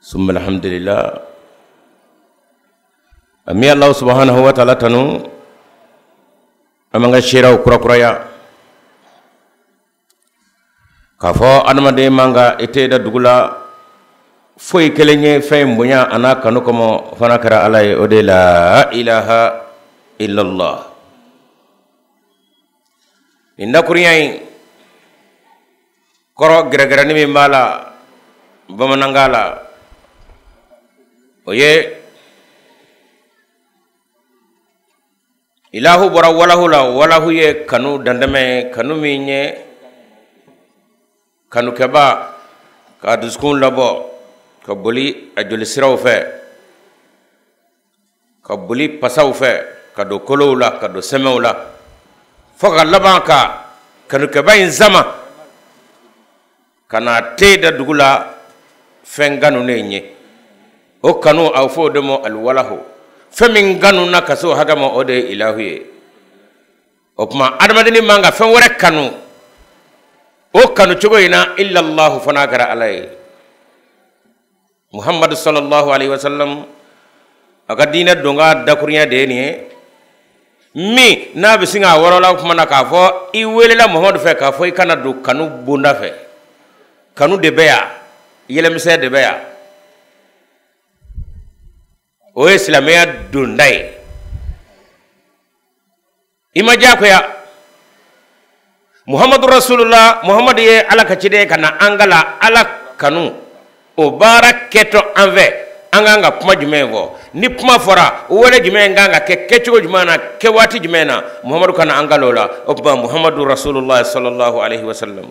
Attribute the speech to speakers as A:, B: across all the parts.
A: summa alhamdulillah an bɛ Alahu subahanahu wa taala tanu an b'an ka seereyaw kurakuraya k'a fɔ adamaden man ka i ten da dugu la foyi kelen ye fɛn in bonya a n'a kanu kɔmɔ fo n'a kɛra Ala ye o de la ilaha illallah nin dakurunya in kɔrɔ gɛrɛgɛrɛni min b'a la bamanankan la o ye ilahu bɔra walahu la walahu ye kanu dantɛmɛ ye kanu min ye kanukɛba ka dusukun labɔ ka boli a jolisiraw fɛ ka boli pasaw fɛ ka don kolow la ka don sɛmɛw la fo ka laban ka kanukɛba in sama ka n'a ten da dugu la fɛn kanunen ye o kanu a fɔ o de ma aliwalahu fɛn min kanu na ka se o hakɛ ma o de ye ilahu ye o tuma adamadenni man ka fɛn wɛrɛ kanu o kanu cogo in na illallahu fo n'a kɛra ala ye muhammadu sallallahu alaihi wasallam a ka diinɛ don ka dakurunya de ye nin ye min n'a bɛ sin k'a wɔrɔla kuma na k'a fɔ i weelela muhammadu fɛ k'a fɔ i ka na don kanu bonda fɛ kanu de bɛ yan yɛlɛmisɛn de bɛ yan o ye silamɛya donda ye i ma diyagoya muhamadu rasulula muhamadu ye ala ka ciden ka na an kalan ala kanu o baara kɛtɔ an fɛ an kan ka kuma jumɛn fɔ ni kuma fɔra wale jumɛn kan ka kɛ kɛcogo jumɛn na kɛ waati jumɛn na muhamadu ka na an kalan o la o tuma muhamadu rasulula sallallahu alaihi wasallam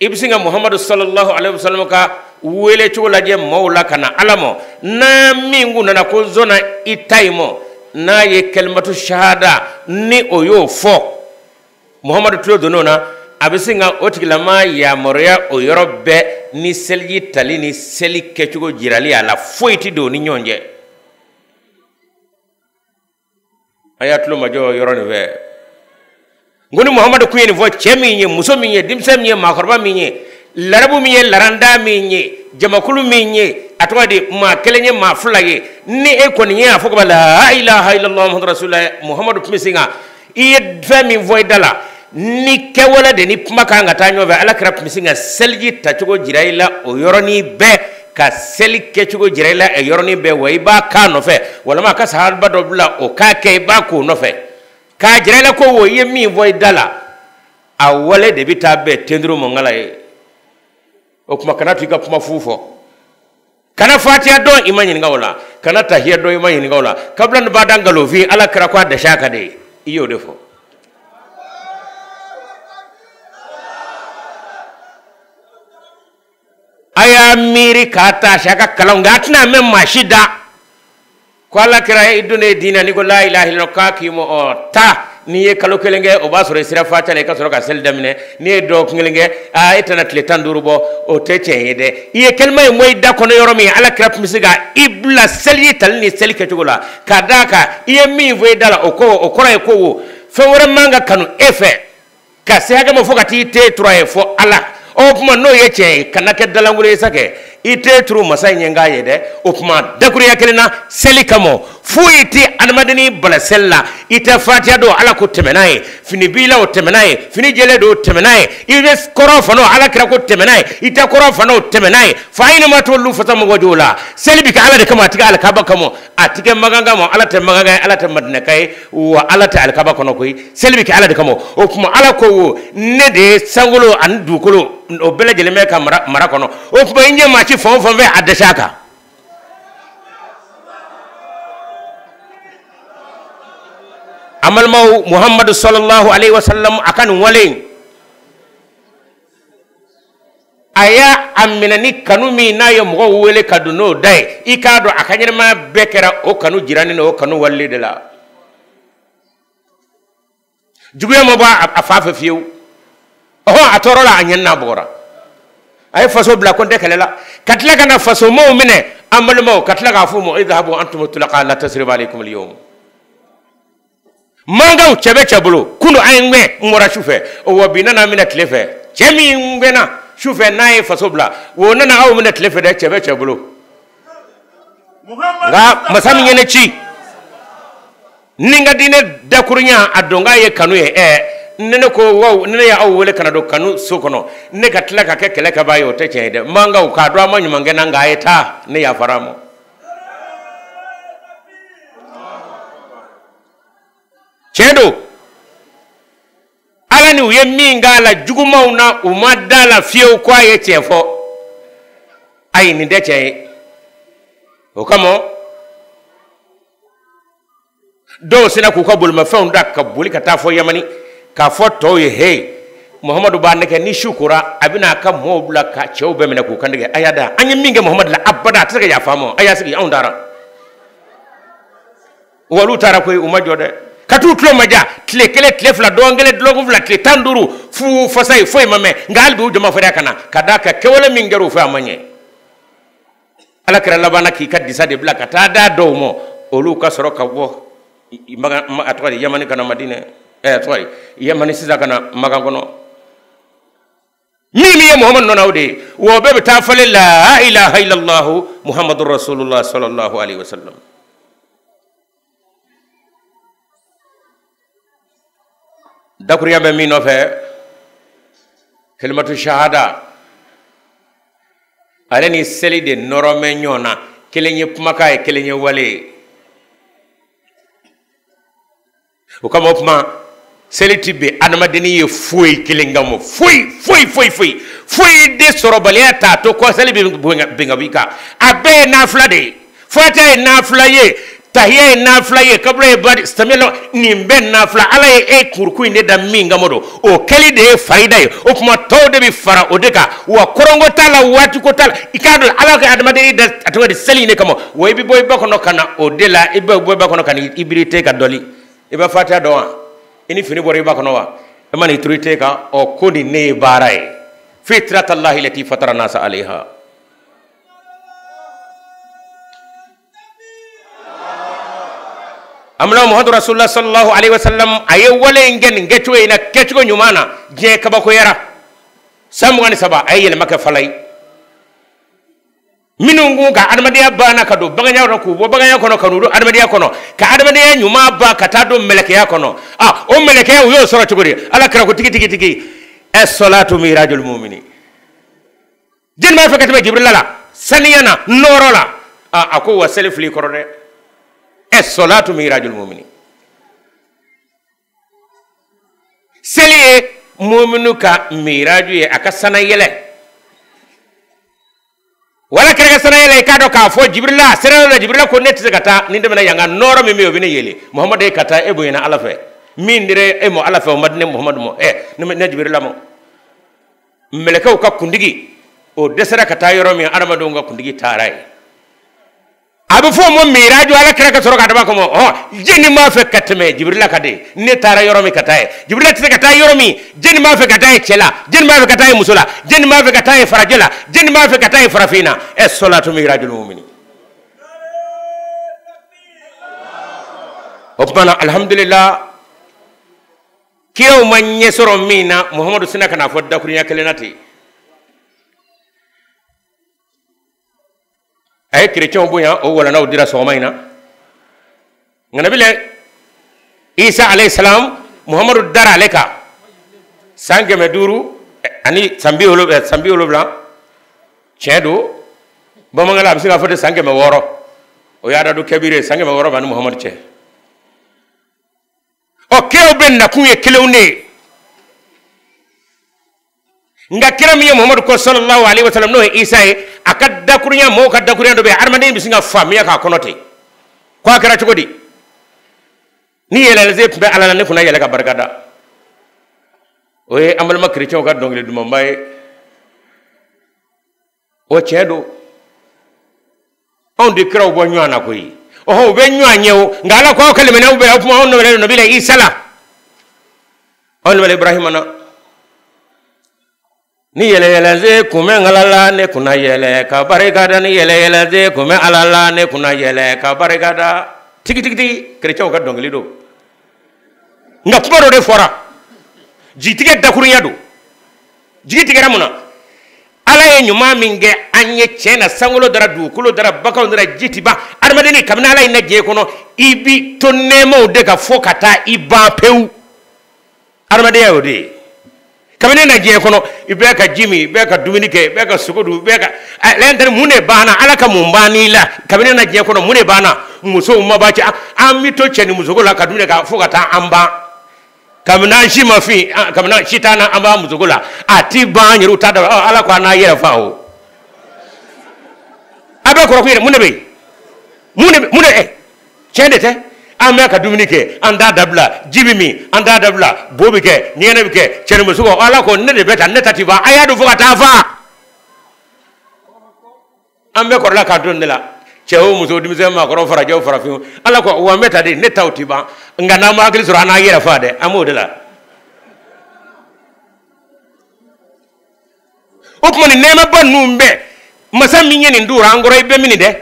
A: i bɛ sin ka muhamadu sallallahu alaihi wasallam ka wele cogo lajɛ maaw la ka na ala mɔ n'a min kun nana ko n sɔnna i ta in mɔ n'a ye kalimatu shahada ni o y'o fɔ muhamadu tulo donn'o na a bɛ sin ka o tigilama yamaruya o yɔrɔ bɛɛ ni seliji tali ni seli kɛcogo jirali a la foyi tɛ don u ni ɲɔgɔn cɛ a y'a tulo majɔ yɔrɔ nin fɛ n ko ni muhamadu kun ye nin fɔ cɛ min ye muso min ye denmisɛn min ye maakɔrɔba min ye larabu min ye laranda min ye jamakulu min ye a tɔgɔ di maa kelen ye maa fila ye ni e kɔni ye a fɔ kaban la ilaha illallah muhammadu rasulullah muhamadu kun bɛ sin ka i ye fɛn min fɔ i da la ni kɛwale de ni kuma kan ka taa ɲɔgɔn fɛ ala kira tun bɛ sin ka seliji tacogo jira i la o yɔrɔnin bɛɛ ka seli kɛcogo jira i la o yɔrɔnin bɛɛ wa i b'a k'a nɔfɛ walima a ka sahaba dɔ bila o k'a kɛ i b'a k'o nɔfɛ k'a jira i la ko wo i ye min fɔ i da la a wale de bɛ taa bɛn tenturu ma ngala ye o tuma kana to i ka kuma fu fɔ kana fatiya dɔn i ma ɲininka o la kana tahiya dɔn i ma ɲininka o la kabila ni bada nkalonfin ala kira ko a dɛsɛ ka de ye i y'o de fɔ a y'a miiri k'a ta a ka kalanw nka a tɛna mɛn maa si da ko ala kira i donnen diinɛ n'i ko la ilaha illallah k'a k'i mɔ ɔ ta n'i ye kalo kelen kɛ o b'a sɔrɔ i sera fatiya la i ka sɔrɔ ka seli daminɛ n'i ye dɔgɔkun kelen kɛ aa e tɛna tile tan duuru bɔ o tɛ tiɲɛ ye dɛ i ye kalima in bɔ i da kɔnɔ yɔrɔ min ala kira tun bɛ sin ka i bila seliji tali ni seli kɛcogo la ka d'a kan i ye min fɔ i da la o ko o kɔrɔ ye ko wo fɛn wɛrɛ man ka kanu e fɛ ka se hakɛ ma fo ka t'i ten turu a ye fo ala o tuma n'o ye tiɲɛ ye kana kɛ dalankolon ye sa kɛ i ten turu masa in ye n k'a ye dɛ o tuma dakuruya kelen na seli kama foyi tɛ adamadeni bala seli la i tɛ fatiya dɔn ala ko tɛ maana ye fini b'i la o tɛ maana ye fini jɛlen don o tɛ maana ye i bɛ kɔrɔn fan na o ala kira ko tɛ maana ye i tɛ kɔrɔn fan na o tɛ maana ye fa aynama tuwallu fasamma wajhullah seli bɛ kɛ ala de kama a tɛ kɛ alikaba kama a tɛ kɛ makan kama ala tɛ makanka ye ala tɛ madinɛka ye wa ala tɛ alikaba kɔnɔ koyi seli bɛ kɛ ala de kama o tuma ala ko wo ne de ye sankolo ani dugukolo o bɛɛ lajɛlen bɛ n ka mara kɔnɔ o tuma i ɲɛ maa sin fan o fan fɛ a dɛsɛ a kan an balimaw muhamadu sɔlɔlahu alayhi wa sallam a ka nin wale in a y'a daminɛ ni kanu min n'a ye mɔgɔw wele ka don n'o da ye i k'a dɔn a ka ɲɛnɛmaya bɛɛ kɛra o kanu jirali n'o kanu waleli de la juguya ma bɔ a fan fɛ fiyewu ɔhɔn a tɔɔrɔla a ɲɛnina a bugɔra a ye faso bila ko n tɛ kɛlɛ la ka tila ka na fasomaw minɛ an balimaw ka tila k'a fɔ u ma idhabu antum tulaqa la tasriba alaykum al-yawm makankaw cɛ bɛ cɛ bolo kunun a ye n gɛn n bɔra su fɛ wa bi n nana a minɛ tile fɛ cɛ min gɛnna su fɛ n'a ye faso bila o nana aw minɛ tile fɛ dɛ cɛ bɛ cɛ bolo nka masa min ye ne ci ni n ka diinɛ dakurunya a donkan ye kanu ye ɛɛ ne ne ko waw ne ne y'aw wele ka na don kanu so kɔnɔ ne ka tila ka kɛ kɛlɛkɛbaa ye o tɛ tiɲɛ ye dɛ makankaw k'a dɔn a ma ɲuman kɛ n na nka a ye taa ne yafara a ma tiɲɛ don ala ni u ye min k'a la jugumanw na u ma da a la fiyewu ko a ye tiɲɛ fɔ ayi nin tɛ tiɲɛ ye o kama dɔw sinna k'u ka bolimafɛnw ta ka boli ka taa fo yamani k'a fɔ tɔw ye he muhamadu b'a nɛgɛn ni su kora a bɛna a ka mɔɔw bila ka cɛw bɛɛ minɛ k'u kan tigɛ a y'a dɔn an ye min kɛ muhamadu la abada a tɛ se ka yafa an ma a y'a sigi anw taara wa olu taara koyi u ma jɔ dɛ ka t'u tulomajɔ tile kelen tile fila dɔgɔkun kelen dɔgɔkun fila tile tan duuru fu fasa ye foyi ma mɛn nka hali bi u ja ma fariya ka na ka d'a kan kɛwale min kɛra u fɛ a ma ɲɛ ala kira labanna k'i ka disa de bila ka taa d'a dɔw ma olu ka sɔrɔ ka bɔ a tɔgɔ di yamani ka na madinɛ ɛ a tɔgɔ di yamani sisan ka na makan kɔnɔ min min ye muhamadu nɔnaw de ye wa bɛɛ bɛ taa falen la ilaha illallahu muhamadu rasulullah sallallahu alaihi wasallam dakuruya bɛ min nɔfɛ kalimatu shahada ale ni seli de nɔrɔlen bɛ ɲɔgɔn na kelen ye kumakan ye kelen ye wale ye o kama o kuma seli ti bin adamadennin ye foyi kelen kama foyi foyi foyi foyi foyi de sɔrɔbaliya t'a to ko seli bɛ bin ka b'i kan a bɛɛ ye nafila de ye fatiha ye nafila ye tahiya ye nafila ye kabila ye bari samiyalo nin bɛɛ nafila ala ye e kuruku in de da min kama don o kɛli de ye farida ye o kuma tɔw de bɛ fara o de kan wa kɔrɔnko t'a la waati ko t'a la i k'a dɔn ala ka adamaden in da a tɔgɔ di seli in de kama wa i bɛ bɔ i ba kɔnɔ ka na o de la i bɛ bɔ i ba kɔnɔ ka na i biri i ten kan dɔli i bɛ fatiha dɔn wa i ni fini bɔra i ba kɔnɔ wa e ma n'i turu i ten kan ɔ ko nin ne ye baara ye fitratallahi llati fatara nasa alaiha amina muhammadu rasulullah sallallahu alaihi wasallam a ye wale in kɛ nin kɛcogo in na kɛcogo ɲuman na diɲɛ kabakoyara san mugan ni saba a ye yɛlɛma kɛ fala ye minnu k'u ka adamadenya banna ka don baganya kɔnɔ k'u bɔ baganya kɔnɔ ka n'u don adamadenya kɔnɔ ka adamadenya ɲuman ban ka taa don mɛlɛkɛya kɔnɔ a o mɛlɛkɛya u y'o sɔrɔ cogo di ala kira ko tigi tigi tigi assalatu mirajul mumini jɛni b'a fɛ ka tɛmɛ jibirila la saniya na nɔɔrɔ la a a ko wa seli filɛ i kɔrɔ dɛ assalatu mirajul mumini seli ye muminu ka miraju ye a ka sannayɛlɛn wa ala kira ka sannayɛlɛn i k'a dɔn k'a fɔ jibirila a sera yɔrɔ la jibirila ko ne tɛ se ka taa ni n tɛmɛna yan kan nɔɔrɔ min bɛ yen o bɛ ne yeele muhamadu e ka taa e bonyana ala fɛ min dira e mɔ ala fɛ o ma di ne muhamadu mɔ ɛ ne jibirila mɔ mɛlɛkɛw ka kuntigi o dɛsɛra ka taa yɔrɔ min adamadenw ka kuntigi taara yen a bɛ fɔ o ma miraju ala kira ka sɔrɔ ka daba ko mɔgɔ jɛni b'a fɛ ka tɛmɛ jibirila kan dɛ ne taara yɔrɔ min ka taa yen jibirila tɛ se ka taa yɔrɔ min jɛni b'a fɛ ka taa yen cɛ la jɛni b'a fɛ ka taa yen muso la jɛni b'a fɛ ka taa yen farajɛ la jɛni b'a fɛ ka taa yen farafin na ɛ sɔlatu mirajul mumini o tuma na alihamudulila kiraw ma ɲɛ sɔrɔ min na muhamadu sinna ka na fɔ dakurunya kelen na ten a ye kerecɛnw bonya o walanda o dira sɔgɔma in na nka nabila isa alayhi salam muhamadu dara ale kan san kɛmɛ duuru ani san bi wolonwula san bi wolonwula tiɲɛ don bamanankala a bɛ se k'a fɔ de san kɛmɛ wɔɔrɔ o y'adadu kabiri ye san kɛmɛ wɔɔrɔ b'a ni muhamadu cɛ ɔ kiraw bɛɛ nakun ye kelen de ye nka kira min ye muhamadu kɔn sallallahu alaihi wasallam n'o ye isa ye a ka dakurunya mɔgɔw ka dakurunya dɔ bɛ yen adamaden bɛ se ka faamuya k'a kɔnɔ ten ko a kɛra cogo di ni yɛlɛ se tun bɛ ala la ne kun na yɛlɛ ka barika da o ye an balima kerecɛnw ka dɔnkili dumanba ye o tiɲɛ don anw tɛ kiraw bɔ ɲɔgɔn na koyi ɔhɔ u bɛ ɲɔgɔn ɲɛ o nka ala ko aw ka limaniya u bɛɛ o tuma anw nabila nabila isa la anw nabila ibrahima na ni yɛlɛyɛlɛ se kun bɛ ala la ne kun na yɛlɛ ka barika da ni yɛlɛyɛlɛ se kun bɛ ala la ne kun na yɛlɛ ka barika da tigitigitigi kerecɛnw ka dɔnkili don nka kuma dɔ de fɔra jigitigɛ dakurunya don jigi tigɛra mun na ala ye ɲuman min kɛ an ye tiɲɛ na sankolo dara dugukolo dara baganw dara ji ti ban adamadeni kabini ala y'i na diɲɛ kɔnɔ i bi to nɛɛmaw de kan fo ka taa i ban pewu adamadenya y'o de ye kabini i na diɲɛ kɔnɔ i bɛ ka ji min i bɛ ka dumuni kɛ i bɛ ka sogo dun i bɛ ka lɛntɛri mun de banna ala ka mun banni la kabini i na diɲɛ kɔnɔ mun de banna musow ma ban cɛ an bɛ to cɛ ni musoko la ka dumuni kɛ fo ka taa an ban kabini an si ma fin kabini an si t'an na an b'a musoko la a ti ban an yɛrɛw t'a dɔn ala ko an n'an yɛrɛ fa o a bɛ kɔrɔkun yɛrɛ mun de bɛ yen mun de mun de ɛ tiɲɛ de tɛ an bɛ ka dumuni kɛ an t'a dabila ji bɛ min an t'a dabila bo bɛ kɛ ɲɛgɛnɛ bɛ kɛ cɛnimuso ala ko ne de bɛ tan ne ta ti ban a y'a dun fo ka taa fa an bɛɛ kɔrɔla k'an to o de la cɛ o muso denmisɛn maakɔrɔ farajɛ o farafin o ala ko wa n bɛ ta de ne taw ti ban nka n'an ma hakili sɔrɔ an n'an yɛrɛ fa dɛ an b'o de la o tuma nin nɛɛmaba ninnu bɛɛ masa min ye nin duwura an kɔrɔ i bɛ min nin dɛ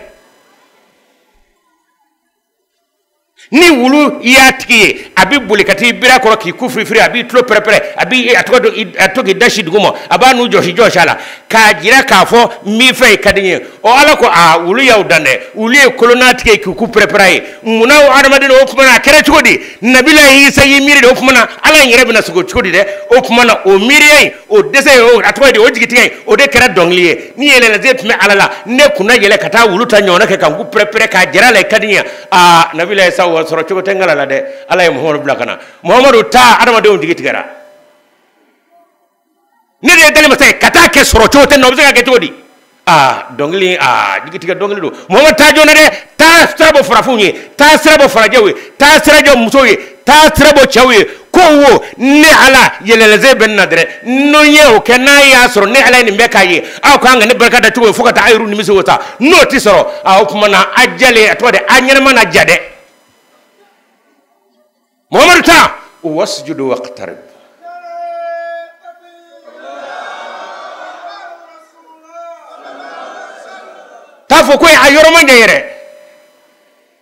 A: ni wulu y'a tigi ye a bɛ boli ka t'i biri a kɔrɔ k'i ku firifiri a b'i tulo pɛrɛpɛrɛ a b'i a tɔgɔ dɔn a to k'i da si duguma a b'a nun jɔsi jɔsi a la k'a jira k'a fɔ n b'i fɛ i ka di n ye ɔ ala ko aa wulu y'aw dan dɛ wulu ye kolo n'a tigi ye k'i ku pɛrɛpɛrɛ a ye munna aw hadamaden o tuma na a kɛra cogo di nabila isa y'i miiri de o tuma na ala in yɛrɛ bɛna sɔrɔ cogo di dɛ o tuma na o miiriya in o dɛsɛ in o a tɔgɔ ye di o jigitigɛ in o de kɛra dɔnkili ye ni yɛlɛlaze tun bɛ ala la ne kun na yɛlɛ ka taa wulu ta ɲɔgɔnna kɛ ka n ku pɛrɛpɛrɛ k'a jira a la i ka di n ye aa nabila isa o sɔrɔ cogo tɛ ngala la dɛ ala ye muhamadu bila ka na muhamadu taa adamadenw jigi tigɛra ne de ye dalimasa ye ka taa kɛ sɔrɔ cogo tɛ n na o bɛ se ka kɛ cogo di aa dɔnkili aa jigitigɛ dɔnkili don muhamadu taa joona dɛ taa sira bɔ farafinw ye taa sira bɔ farajɛw ye taa sira jɔ musow ye taa sira bɔ cɛw ye ko wo ne ala yɛlɛlɛze bɛ n na dɛrɛ n'o ye o kɛ n'a y'a sɔrɔ ne ala ye nin bɛɛ k'aw ye aw k'an ka ne barika da cogo ye fo ka taa aw yɛrɛ nimisi wasa n'o tɛ sɔrɔ o kuma na a jalen a tɔgɔ de a ɲɛnama na ja dɛ muhamadu taa wasjudu waqtarib t'a fɔ koyi a yɔrɔ man jan yɛrɛ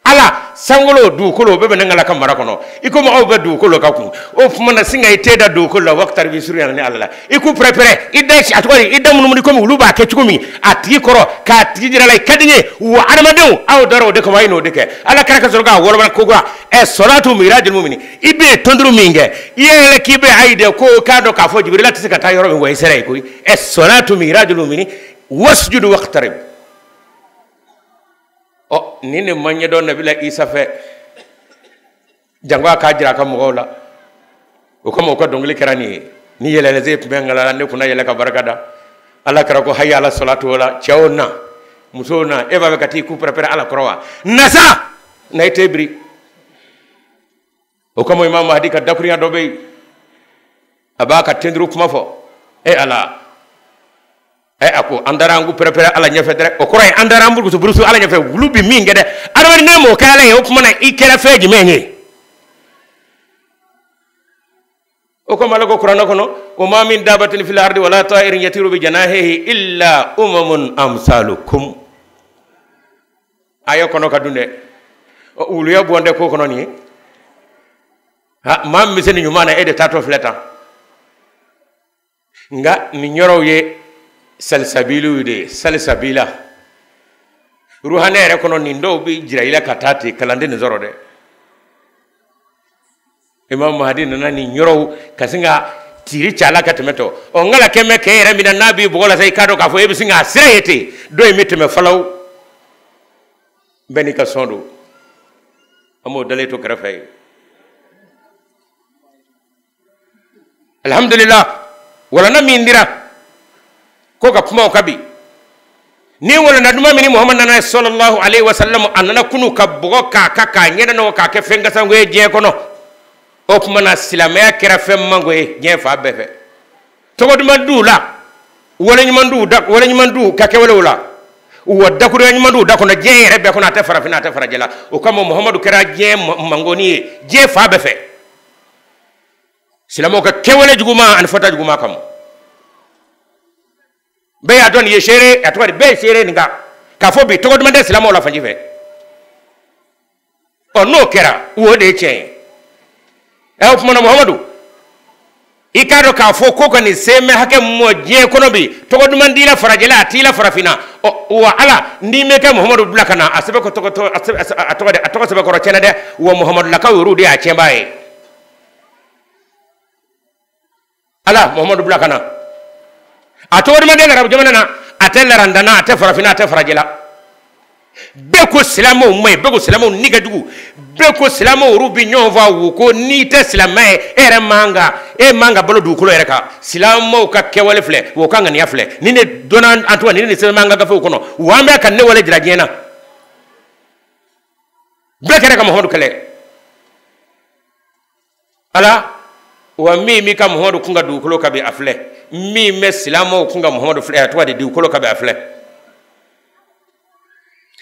A: ala sankolo dugukolo bɛɛ bɛ ne ngala ka mara kɔnɔ i komi aw bɛ dugukolo ka kun o tuma na sin ka i ten da dugukolo la waqtarib i surunyana ne ala la i ku pɛrɛpɛrɛ i da a tɔgɔ i da munumunu komi wulu b'a kɛ cogo min a tigi kɔrɔ k'a tigi jira a la i ka di n ye wa adamadenw aw dara o de kama a ye n'o de kɛ ala kira ka sɔrɔ k'a wɔlɔbɔ ko kura ɛ salatu mirajul muminin i bɛ tɔnturu min kɛ i yɛlɛ k'i bɛ ayi de ko k'a dɔn k'a fɔ jibirila tɛ se ka taa yɔrɔ min wa i sera yen koyi ɛ salatu mirajul muminin wasjudu waqtarib o nin de ma ɲɛdɔn nabila isa fɛ jango a k'a jira a ka mɔgɔw la o kama u ka dɔnkili kɛra nin ye ni yɛlɛlɛse tun bɛ ngala la ne kun na yɛlɛ ka barika da ala kira ko hayi ala salatu o la cɛw na musow na e b'a fɛ ka t'i ku pɛrɛpɛrɛ ala kɔrɔ wa na sa na i ten biri o kama imam mahadi ka dakuruɲɛ dɔ bɛ yen a b'a ka tenduru kuma fɔ e ala ɛ a ko an taara an ku pɛrɛpɛrɛ ala ɲɛfɛ dɛrɛ o kɔrɔ ye an taara an burusu burusu ala ɲɛfɛ wulu bɛ min kɛ dɛ adamaden n'i m'o kɛ ala ye o tuma na i kɛra fɛn jumɛn ye o kama ala ko kuranɛ kɔnɔ wa ma min dabatin fil ardi wala ta'irin yatiru bi janahihi illa umamun amsalukum aya kɔnɔ ka dun dɛ wuluya bɔn dɛ ko kɔnɔnin ye ha maa min bɛ se nin ɲuman na e de taatɔ filɛ tan nka nin yɔrɔw ye salisabiliw de ye salisabila ruhaniya yɛrɛ kɔnɔ nin dɔw bɛ jira i la ka taa ten kalanden nin sɔrɔ dɛ imam mahadi nana nin yɔrɔw ka sin ka tiri ci a la ka tɛmɛ tɔ ɔ n kala kɛmɛ kɛ yɛrɛ min na n'a b'i bɔgɔ la sa i k'a dɔn k'a fɔ e bɛ sin k'a sira ye ten dɔ in bɛ tɛmɛ falaw bɛɛ n'i ka sɔn don an b'o dalen to kɛrɛfɛ ye alhamdulillah walanda min dira ko ka kuma o kan bi ni walanda duman min ni muhammad nana ye sallallahu alaihi wasallam a nana kunu ka bɔgɔ k'a kan k'a ɲɛda nɔgɔ k'a kɛ fɛn kasango ye diɲɛ kɔnɔ o tuma na silamɛya kɛra fɛn mango ye diɲɛ fan bɛɛ fɛ tɔgɔ duman t'u la wale ɲuman t'u da wale ɲuman t'u ka kɛwalew la wa dakuruya ɲuman t'u da kɔnɔ diɲɛ yɛrɛ bɛɛ kɔnɔ a tɛ farafinna a tɛ farajɛ la o kama muhamadu kɛra diɲɛ mangoni ye diɲɛ fan bɛɛ fɛ silamɛw ka kɛwale juguman ani fɔta juguman kama bɛɛ y'a dɔn nin ye seere a tɔgɔ de bɛɛ ye seere nin kan k'a fɔ bi tɔgɔ duman tɛ silamɛw la fanji fɛ ɔ n'o kɛra o de ye tiɲɛ ye ɛ o tuma na muhamadu i k'a dɔn k'a fɔ ko ka nin semɛ hakɛ mɔ diɲɛ kɔnɔ bi tɔgɔ duman t'i la farajɛla a t'i la farafinna wa ala n'i mɛ ka muhamadu bila ka na a sɛbɛn ko tɔgɔ a tɔgɔ sɛbɛkɔrɔ tiɲɛna dɛ wa muhamadulakaw yɛrɛw de y'a tiɲɛbaa ye ala muhamadu bila ka na a tɔgɔ duman tɛ larabu jamana na a tɛ larandana a tɛ farafinna a tɛ farajɛla bɛɛ ko silamɛw man ɲi bɛɛ ko silamɛw ni ka jugu bɛɛ ko silamɛw yɛrɛw bɛ ɲɔgɔn faga u ko n'i tɛ silamɛ ye e yɛrɛ man kan e man ka balo dugukolo yɛrɛ kan silamɛw ka kɛwale filɛ u ka ŋaniya filɛ nin de donna an tɔgɔ nin de sɛbɛnna an ka gafew kɔnɔ wa an bɛ ka nin wale jira diɲɛ na bɛɛ kɛra ka muhamadu kɛlɛ ala wa min b'i ka muhamadu kun kan dugukolo kan bi a filɛ min bɛ silamɛw kun kan muhamadu filɛ a tɔgɔ de dugukolo kan bi a filɛ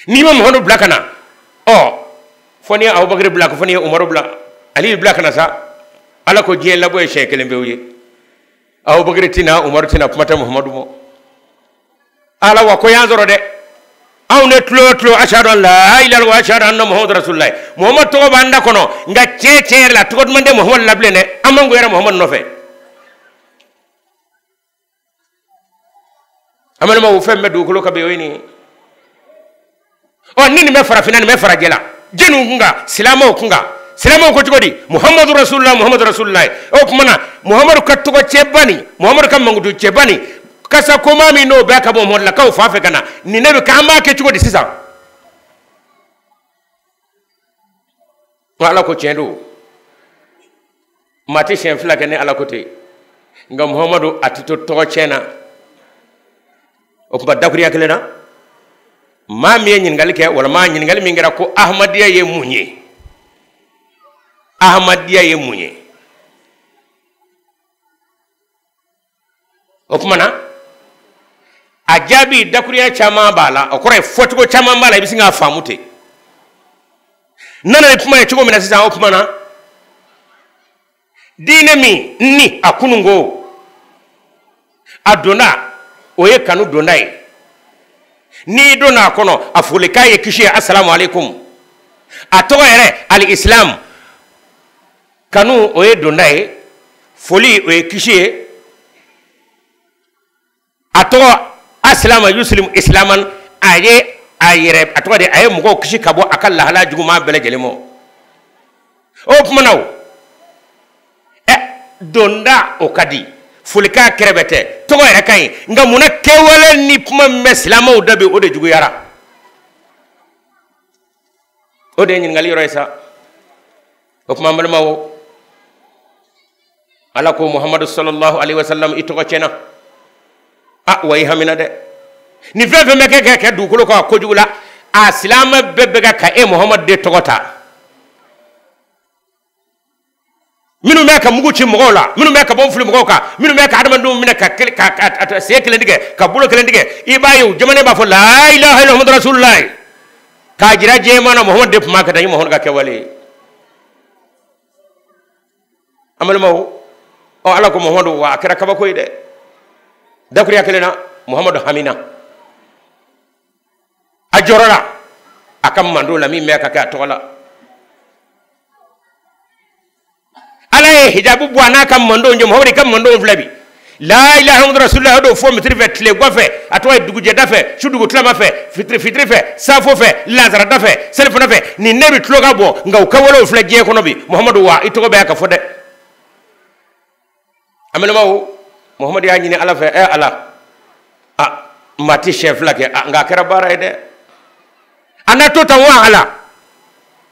A: n'i ma muhamadu bila ka na ɔ fo n'i ye abubakari bila ko fo n'i ye umaru bila ali bila ka na sa ala ko diɲɛ labɔ ye siɲɛ kelen pewu ye abubakari tɛ na umaru tɛ na kuma tɛ muhamadu ma ala wa ko y'an sɔrɔ dɛ anw de tile o tile ashadu an la ilaha illallah wa ashadu anna muhammadu rasulullah muhammadu tɔgɔ b'an da kɔnɔ nka tiɲɛ tiɲɛ yɛrɛ la tɔgɔ duman tɛ muhammadu la bilen dɛ an mangoyara muhammadu nɔfɛ an balimaw fɛn min bɛ dugukolo kan bi o ye nin ye ɔ ni nin bɛ farafinna nin bɛ farajɛla diinɛ kun kan silamɛw kun kan silamɛw ko cogo di muhamadu rasululahi muhamadu rasululahi o tuma na muhamadu ka tɔgɔ tiɲɛba nin muhamadu ka mankutu tiɲɛba nin kasa goman min n'o bɛ ka bɔ muhamadulakaw fan fɛ ka na nin de bɛ kɛ an b'a kɛ cogo di sisan ko ala ko tiɲɛ don maa tɛ siɲɛ fila kɛ ni ala ko tɛ nka muhamadu a tɛ to tɔgɔ tiɲɛna o tuma dakuriya kelen na maa min ye ɲininkali kɛ walima ɲininkali min kɛra ko ahmadiyya ye mun ye ahmadiyya ye mun ye o tuma na a jaabi dakuruya caman b'a la o kɔrɔ ye fɔcogo caman b'a la i bɛ sin k'a faamu ten n nana ni kuma ye cogo min na sisan o tuma na diinɛ min ni a kununko a donda o ye kanu donda ye n'i donna a kɔnɔ a folikan ye kisi ye asalamu aleykum a tɔgɔ yɛrɛ alisilamu kanu o ye donda ye foli o ye kisi ye a tɔgɔ asilama yusilim isilaman a ye a yɛrɛ a tɔgɔ de a ye mɔgɔ kisi ka bɔ a ka lahala juguman bɛɛ lajɛlen ma o kuma na o donda o ka di folikan kɛrɛbɛtɛ tɔgɔ yɛrɛ ka ɲi nka mun na kɛwale ni kuma min bɛ silamɛw da bi o de juguyara o de ye ɲininkali yɔrɔ ye sa o tuma n balimaw o ala ko muhamadu sallallahu alaihi wasallam i tɔgɔ tiɲɛna awa i hamina dɛ ni fɛn fɛn bɛ kɛ ka kɛ dugukolo kan kojugu la a silamɛ bɛɛ bɛ ka ka e muhamadu de tɔgɔ ta minnu bɛ ka mugu ci mɔgɔw la minnu bɛ ka bɔmu fili mɔgɔw kan minnu bɛ ka adamadenw minɛ ka sen kelen tigɛ ka bolo kelen tigɛ i b'a ye u jamana b'a fɔ la ilaha illallah muhammadu rasulullah k'a jira diɲɛ maa na muhammadu de tun b'a kɛ tan nin muhammadu ka kɛwale ye an balimaw o ala ko muhammadu wa a kɛra kabako ye dɛ dakuriya kelen na muhammadu hamina a jɔrɔla a ka mantɔn la min bɛ ka kɛ a tɔgɔ la ala ye hijabu bɔ a n'a ka mantɔn cɛ muhammadu i ka mantɔn filɛ bi la ilaha muhammadu rasulullah do fo mitiri fɛ tilegan fɛ a tɔgɔ ye dugujɛda fɛ su dugutilama fɛ fitiri fɛ safo fɛ lazarada fɛ selifana fɛ nin ne bɛ tulo ka bɔ nka u ka walew filɛ diɲɛ kɔnɔ bi muhammadu wa i tɔgɔ bɛ ka fɔ dɛ an balimaw muhamadu y'a ɲini ala fɛ ɛ ala a maa tɛ siɲɛ fila kɛ nka a kɛra baara ye dɛ a na to tan wa ala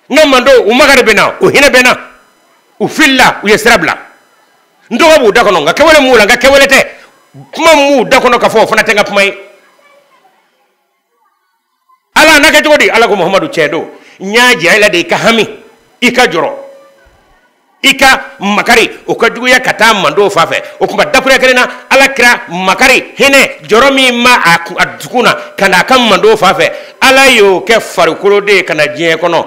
A: n ka mantɔn u makari bɛ n na u hinɛ bɛ n na u filila u ye sira bila n tɔgɔ b'u da kɔnɔ nka kɛwale m'u la n ka kɛwale tɛ kuma m'u da kɔnɔ ka fɔ o fana tɛ n ka kuma ye ala a na kɛ cogo di ala ko mahamadu tiɲɛ don n y'a jira i la de i ka hami i ka jɔrɔ i ka makari o ka juguya ka taa mantɔn fan fɛ o tuma dakuruya kelen na ala kira makari hinɛ jɔrɔ min b'a dusukun na ka na a ka mantɔn fan fɛ ala y'o kɛ farikolo de ye ka na diɲɛ kɔnɔ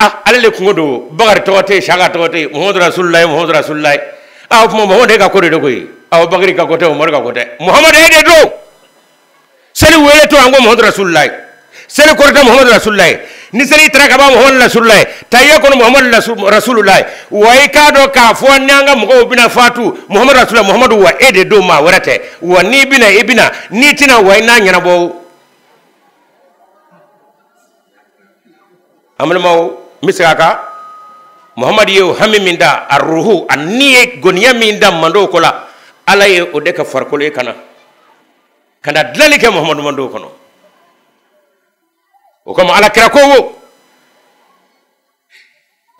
A: ah ale de kunko don bakari tɔgɔ tɛ yen saka tɔgɔ tɛ yen muhamadu rasululayi muhamadu rasululayi ah o tuma muhamadu e ka ko de don koyi ah bakari ka ko tɛ umaru ka ko tɛ muhamadu e de don seli weletɔ an ko muhamadu rasululayi seli kɔrɔta muhamadu rasululayi ni seli taara ka ban muhamadu rasululayi tahiya kɔnɔ muhamadu rasululayi wa i k'a dɔn k'a fɔ n'an ka mɔgɔw bɛna fatu muhamadu rasululayi muhamadu wa e de don maa wɛrɛ tɛ wa n'i bɛna i bɛna n'i tɛna wa i n'a ɲɛnabɔ an balimaw n bɛ segin a kan muhamadu ye o hami min da a ruhu ani ye goniya min da mantɔn ko la ala ye o de kɛ farikolo ye ka na ka na dilanni kɛ muhamadu mantɔn kɔnɔ o kama ala kira ko wo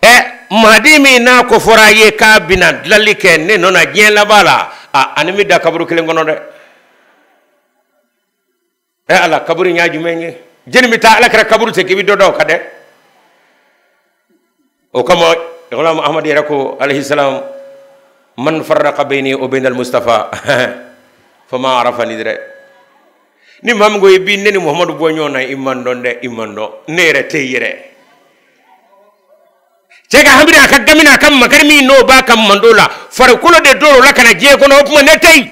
A: ɛ mahadi min n'a ko fɔra a ye k'a bɛna dilanni kɛ ne nɔ na diɲɛ laban la a ni n bɛ da kaburu kelen kɔnɔ dɛ e ala kaburu ɲa jumɛn ye jɛni bɛ taa alakira kaburu ti k'i bɛ dɔ don a kan dɛ o kama ghulam ahmadu yɛrɛ ko alayhi salam man farraka bayni wa bayna al-mustafa fama arafani dɛrɛ ni maa min ko i bɛ ne ni muhamadu bɔ ɲɔgɔn na i ma n dɔn dɛ i ma n dɔn ne yɛrɛ tɛ yen yɛrɛ cɛ ka hami n'a ka gami n'a ka makari min n'o b'a ka mantɔn la farikolo de don o la ka na diɲɛ kɔnɔ o tuma ne tɛ yen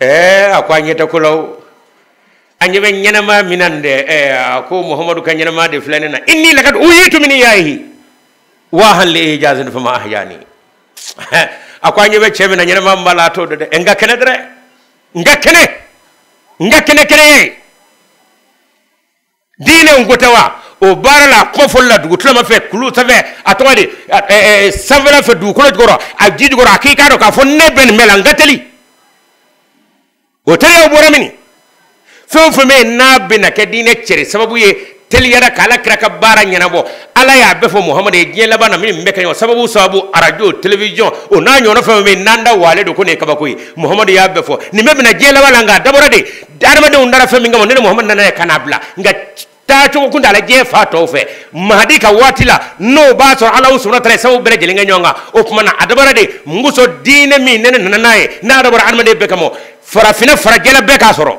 A: e a ko aw ɲɛ tɛ ko la aw ɲɛ bɛ ɲɛnɛma min na nin dɛ ɛ a ko muhamadu ka ɲɛnɛma de filɛ ne na inni lakad uhyitu min ihyaihi wahan li ijazin fama ahyani a ko aw ɲɛ bɛ cɛ min na ɲɛnɛma min b'a la a t'o dɔn dɛ n ka kɛnɛ dɛrɛ n ka kɛnɛ n ka kɛnɛ kɛnɛ ye diinɛ ko tɛ wa o baara la a kuma fɔli la dugutilama fɛ kulu sanfɛ a tɔgɔ de sanfɛla fɛ dugukolo jukɔrɔ a ji jukɔrɔ a k'i k'a dɔn k'a fɔ ne bɛ nin bɛɛ la n ka teli o teliyaw bɔra min fɛn o fɛn bɛ yen n'a bɛna kɛ diinɛ cɛri sababu ye teliya la ka ala kira ka baara ɲɛnabɔ ala y'a bɛɛ fɔ muhamadu ye diɲɛ laban na min bɛ kɛ ɲɔgɔn sababu sababu radio télévision o n'a ɲɔgɔnna fɛn o fɛn bɛ yen n'an da waalen don ko nin ye kabako ye muhamadu y'a bɛɛ fɔ nin bɛɛ bɛna diɲɛ laban na nka a dabɔra de hadamadenw dara fɛn min kama ni ne muhamadu nana ye ka n'a bila nka taacogo kun t'a la diɲɛ fan tɔw fɛ mahadi ka waati la n'o b'a sɔrɔ ala sɔrɔ ta sabu bɛɛ lajɛlen kɛ ɲɔgɔn kan o tuma na a dabɔra de muso diinɛ min ni ne nana n'a ye n'a dabɔra adamaden bɛɛ kama farafinna farajɛla bɛɛ k'a sɔrɔ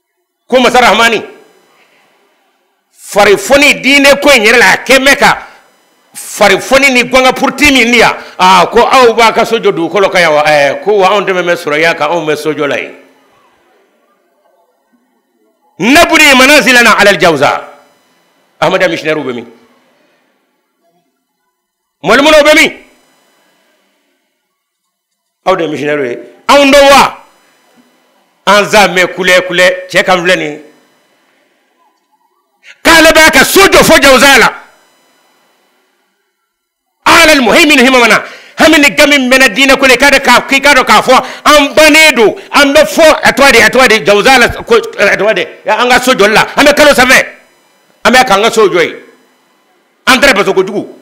A: ko masa rahamani farifoni diinɛ ko in yɛrɛ la a kɛ mɛ ka farifoni ni gɔngɔn purti min ni yan aa ko aw b'aw ka so jɔ dugukolo kan yan wa ɛɛ ko wa anw de bɛ suraya kan anw bɛ so jɔ la yen nabni manazilana alal jawza ahmadiya missionnairew bɛ min mɔlimɔnɔw bɛ min aw de ye misiyɔnɛriw ye aw don wa an za mɛ kulɛ kulɛ cɛ kan filɛ nin k'ale b'a ka so jɔ fo jawusa la ala almuhayminu himamana hami ni gami bɛ n na diinɛ ko la i k'a dɔn k'a k'i k'a dɔn k'a fɔ an bannen don an bɛ fɔ a tɔgɔ de a tɔgɔ de jawusa la ko a tɔgɔ de an ka so jɔli la an bɛ kalo sanfɛ an bɛ k'an ka so jɔ yen an taara baso kojugu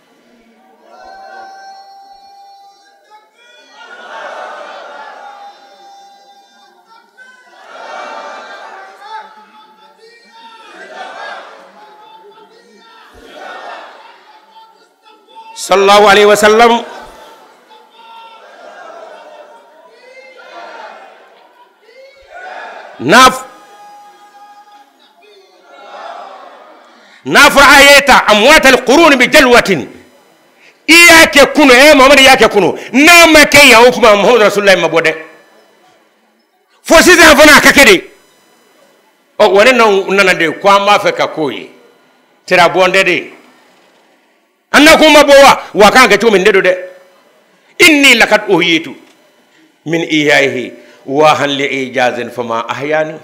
A: sallallahu alayhi wa sallam n'a n'a fɔra ahyayta amwat alquruni bi jalwatin i y'a kɛ kunu e muhamadu i y'a kɛ kunu n'a ma kɛ yan o tuma muhamadu rasululayi ma bɔ dɛ fo sisan fana a ka kɛ de ɔ wa ne nana de ko an b'a fɛ ka k'o ye tirabɔndɛ de an na kuma bɔ wa wa kan kɛ cogo min ne don dɛ inni lakat ohiyitu min ihyayihi wahan li ijazin fama ahyani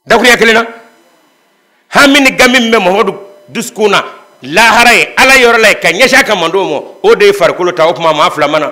A: dakuruɲa kelen na hami ni gami min bɛ muhamadu dusukun na lahara yen ala yɔrɔ la yen ka ɲɛsin a ka mantɔn ma o de ye farikolo ta o tuma maa fila mana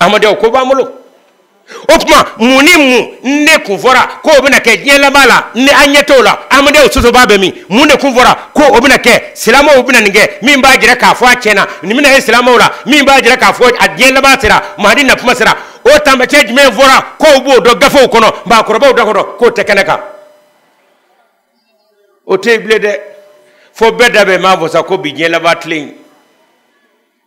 A: ahmadiya ko b'an bolo o tuma mun ni mun ne kun fɔra ko o bɛna kɛ diɲɛ laban la ni an ɲɛ t'o la ahmadiya sɔsɔbaa bɛ min mun de kun fɔra ko o bɛna kɛ silamɛw bɛna nin kɛ min b'a jira k'a fɔ a tiɲɛna nin bɛna kɛ silamɛw la min b'a jira k'a fɔ a diɲɛ laban sera mahadi na kuma sera o taamasiyɛn jumɛn fɔra k'o b'o dɔn gafew kɔnɔ maakɔrɔbaw da kɔnɔ k'o tɛ kɛnɛ kan o tɛ yen bilen dɛ fo bɛɛ da bɛ maa fɔ sa ko bi diɲɛ laban tilen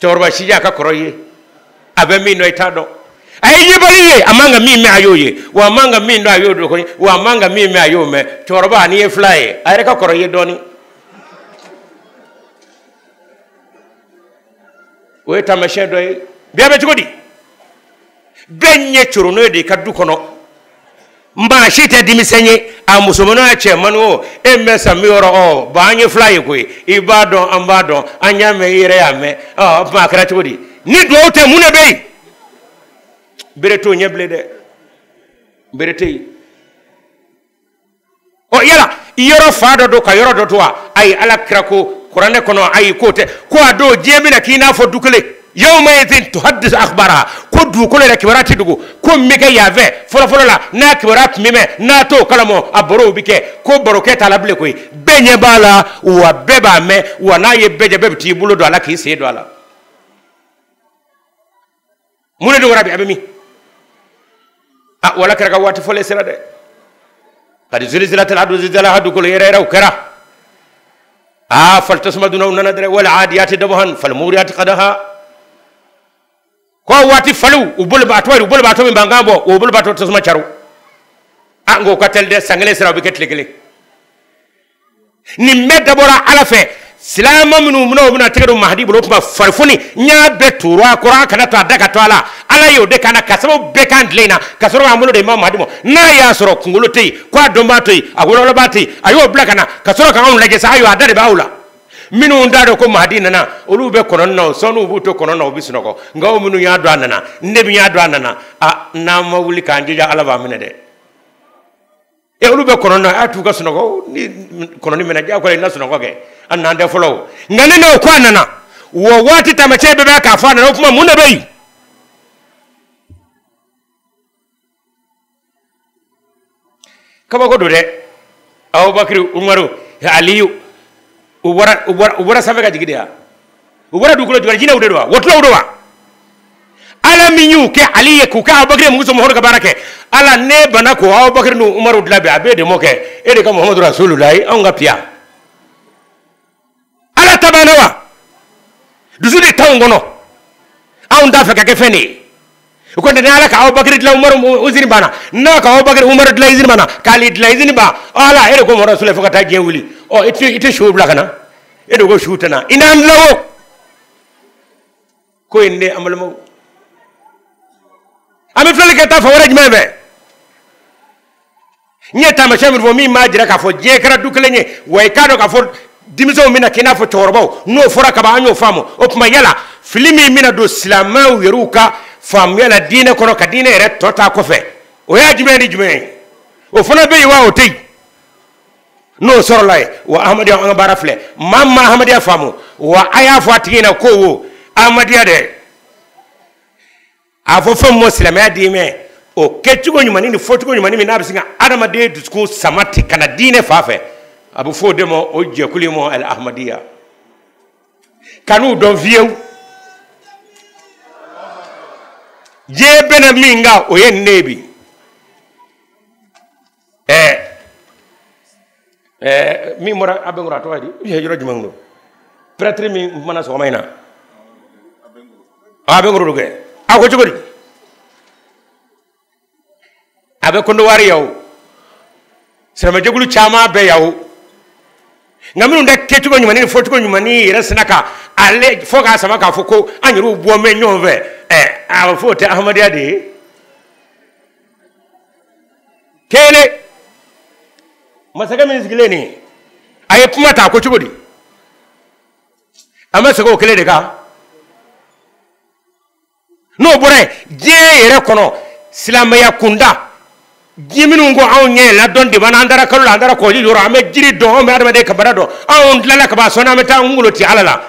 A: cɛkɔrɔba sijɛ a ka kɔrɔ i ye a bɛ min dɔn i t'a dɔn a ye yebali ye a man ka min mɛn a y'o ye wa a man ka min dɔn a y'o dɔn wa a man ka min mɛn a y'o mɛn cɛkɔrɔba n'i ye filan ye a yɛrɛ ka kɔrɔ i ye dɔɔnin o ye taamasiyɛn dɔ ye bi a bɛ cogo di bɛɛ ɲɛ coro n'o ye de i ka du kɔnɔ maa si tɛ denmisɛn ye a musoman o a cɛmannin o e bɛ san biwɔɔrɔ ɔ ba an ye filan ye koyi i b'a dɔn an b'a dɔn an y'a mɛn i yɛrɛ y'a mɛn ɔ o tuma a kɛra cogo di ni dugawu tɛ mun de bɛ yen bere t'o ɲɛ bilen dɛ bere tɛ yen ɔ yala i yɔrɔ fan dɔ don ka yɔrɔ dɔ to wa ayi ala kira ko kuranɛ kɔnɔ ayi k'o tɛ ko a don diɲɛ bɛna k'i n'a fɔ du kelen yawma idin tuhaddisu akhbaraha ko dugukolo yɛrɛ kibaruya tɛ dogo ko min bɛ kɛ yan fɛ fɔlɔfɔlɔ la n'a kibaruya tun bɛ mɛn n'a t'o kalama a barow bɛ kɛ ko barokɛ t'a la bilen koyi bɛɛ ɲɛ b'a la wa bɛɛ b'a mɛn wa n'a ye bɛɛ jɛ bɛɛ bɛ t'i bolo don a la k'i sen don a la mun de dogora bi a bɛ min a wala kɛra ka waati fɔlen sera dɛ kadi zulzilatil ardu zilzalaha dugukolo yɛrɛ yɛrɛw kɛra a fali tasuma dunaw nana dɛrɛ wal adiyati dabahan fal muriyati qadaha ko waati faliw u bolibaatɔ wa u bolibaatɔ bɛ mankan bɔ u bolibaatɔ tasuma caro a ngo ka teli dɛ san kelen sira u bɛ kɛ tile kelen nin bɛɛ dabɔra ala fɛ silama minnu minɛ u bɛna tɛgɛ don mahadi bolo o tuma farifoni n y'a bɛɛ turu a kɔrɔ a kana to a da ka to a la ala y'o de kana ka sababu bɛɛ kan tile in na ka sɔrɔ k'an bolo di imam mahadi ma n'a y'a sɔrɔ kunkolo tɛ yen ko a dɔnbaa tɛ yen a wololɔbaa tɛ yen a y'o bila ka na ka sɔrɔ k'anw lajɛ sa ayiwa a da de b'aw la minnu t'a dɔn ko mahadi nana olu bɛ kɔnɔni na o sɔnniw b'u to kɔnɔni na u bɛ sunɔgɔ nka o minnu y'a dɔn a nana ne min y'a dɔn a nana a n'an ma wuli k'an jija ala b'an minɛ dɛ e olu bɛ kɔnɔni na a to u ka sunɔgɔ ni kɔnɔni mɛɛnna diyagoya i na sunɔgɔ kɛ a nan tɛ fɔlɔ o nka ne n'o ko a nana wɔ waati taamasiyɛn bɛɛ bɛ k'a fɔ a nana o tuma mun de bɛ yen kabako don dɛ abubakari umaru aliyu u bɔra sanfɛ ka jigin de wa u bɔra dugukolo jukɔrɔ jinɛw de don wa wɔkulɔw don wa ala min y'u kɛ ali ye k'u kɛ abubakari muso muhamadu ka baara kɛ ala ne banna ko abubakari ni umaru dilan bi a b'e de mɔ kɛ e de ka muhamadu rasululayi anw ka piya ala ta banna wa dusu de t'anw kɔnɔ anw t'a fɛ ka kɛ fɛn de ye o ko tɛ ni ala ka abubakari dilan umaru izini banna n'a ka abubakari umaru dilan izini banna ka ali dilan izini ban ala e de ko muhamadu rasululayi fo ka taa diɲɛ wuli ɔ i tɛ i tɛ suw bila ka na e de ko suw tɛ na i n'an dilan o ko in de an balimaw an bɛ filɛli kɛ taa fan wɛrɛ jumɛn fɛ n ye taamasiyɛn min fɔ min b'a jira k'a fɔ diɲɛ kɛra du kelen ye wa i k'a dɔn k'a fɔ denmisɛnw bɛna k'i n'a fɔ cɛkɔrɔbaw n'o fɔra kaban an y'o faamu o tuma yala fili min bɛna don silamɛw yɛrɛw ka faamuya la diinɛ kɔnɔ ka diinɛ yɛrɛ tɔ ta kɔfɛ o ye jumɛn ni jumɛn ye o fana bɛ yen wa o tɛ yen n'o sɔrɔla yen wa ahmadiya an ka baara filɛ maa min ma ahmadiya faamu wa a y'a fɔ a tigi ɲɛna ko wo ahmadiya dɛ a fɔ fɛn min ma silamɛya diinɛ o kɛcogo ɲumanni ni fɔcogo ɲumanni min n'a bɛ se ka adamaden dusukun sama ten ka na diinɛ fan fɛ a bɛ fɔ o de ma o jɛkulu in ma al ahmadiya ka n'u dɔn fiyewu diɲɛ bɛnna min kan o ye nin ye bi ɛɛ ɛɛ min bɔra abengourou a tɔgɔ di u ye yɔrɔ jumɛn don pɛrɛtiri min kumana sɔgɔma in na abengourou don kɛ a ko cogo di a bɛ kɔdiwari yan o silamɛjɛkulu caman bɛ yan o nka minnu de kɛcogo ɲuman ni fɔcogo ɲuman ni yɛrɛ sina ka ale fɔ k'a sama k'a fɔ ko an yɛrɛw bɛ ɲɔgɔn fɛ ɛɛ a fɔ o tɛ ahmadiyya de ye kelen masakɛ min sigilen nin a ye kuma ta ko cogo di a ma segin o kelen de kan n'o bɔra yen diɲɛ yɛrɛ kɔnɔ silamɛya kunda ji minnu ko anw ɲɛ ladɔn de b'an na an taara kalo la an taara kɔji yɔrɔ an bɛ jiri dɔn anw bɛ adamaden kabara dɔn anw tilala ka ban sɔɔni an bɛ taa an kungolo ti ala la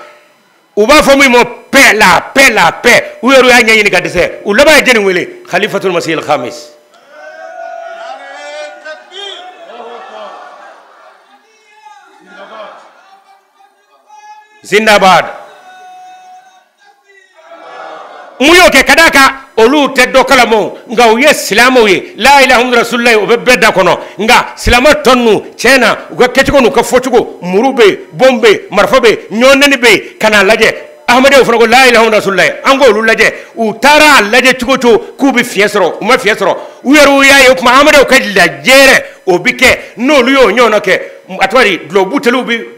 A: u b'a fɔ min ma paix la paix la paix u yɛrɛ y'a ɲɛɲini ka dɛsɛ u laban ye jɛni wele khalifatul masihil khamis zindabad mun y'o kɛ ka d'a kan olu tɛ dɔ kalama o nka u ye silamɛw ye la ilaha muhamadu rasululayi o bɛ bɛɛ da kɔnɔ nka silamɛ tɔ ninnu tiɲɛ na u ka kɛcogo n'u ka fɔcogo muru bɛ yen bombe bɛ yen marifa bɛ yen ɲɔgɔnnɛni bɛ yen ka n'a lajɛ ahamadiw fana ko la ilaha muhamadu rasululayi an k'olu lajɛ u taara a lajɛ cogo o cogo k'u bɛ fiɲɛ sɔrɔ u ma fiɲɛ sɔrɔ u yɛrɛw y'a ye o tuma ahamadiw ka lajɛrɛ o bɛ kɛ n'olu y'o ɲɔgɔnna kɛ a tɔgɔ ye di dulɔbuteliw bɛ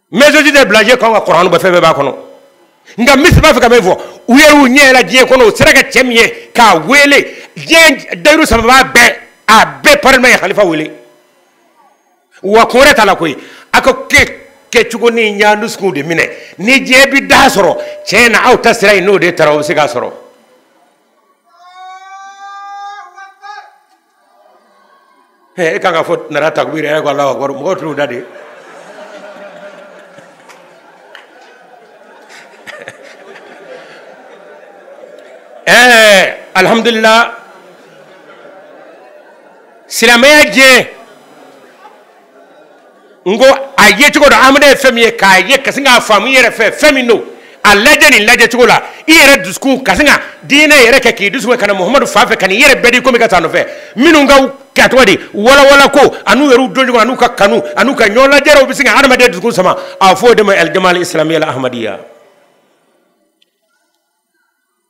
A: mɛsɛji tɛ bilaje kan ka kɔrɔn bɛɛ fɛn bɛɛ b'a kɔnɔ nka misiri b'a fɛ ka min fɔ u ye u ɲɛ yɛlɛ diɲɛ kɔnɔ u sera ka cɛ min ye k'a wele diɲɛ dayiru sababa bɛɛ a bɛɛ parlement ye halifa wele wa kun wɛrɛ t'a la koyi a ko k'e kɛcogo nin y'an dusukun de minɛ ni diɲɛ bi da sɔrɔ tiɲɛ na aw ta sira in n'o de tara o bɛ se k'a sɔrɔ e kan ka fɔ nara takbir yɛrɛ yɛrɛ ko ala akbar mɔgɔw tulo da de ɛɛ alihamudulila silamɛya diɲɛ n ko a ye cogo dɔ hadamaden fɛn min ye k'a ye ka se k'a faamu yɛrɛ fɛ fɛn min don a lajɛ nin lajɛ cogo la i yɛrɛ dusukun ka se ka diinɛ yɛrɛ kɛ k'i dusukun ka na muhamadu fan fɛ ka n'i yɛrɛ bɛɛ di komi ka taa nɔfɛ minnu ka ka tɔgɔ di walawala ko an'u yɛrɛ don ɲɔgɔn an'u ka kanu an'u ka ɲɔgɔn lajɛrɛ o bɛ se ka hadamaden dusukun sama a fɔ o de ma alijama isilamiya al ahmadiyya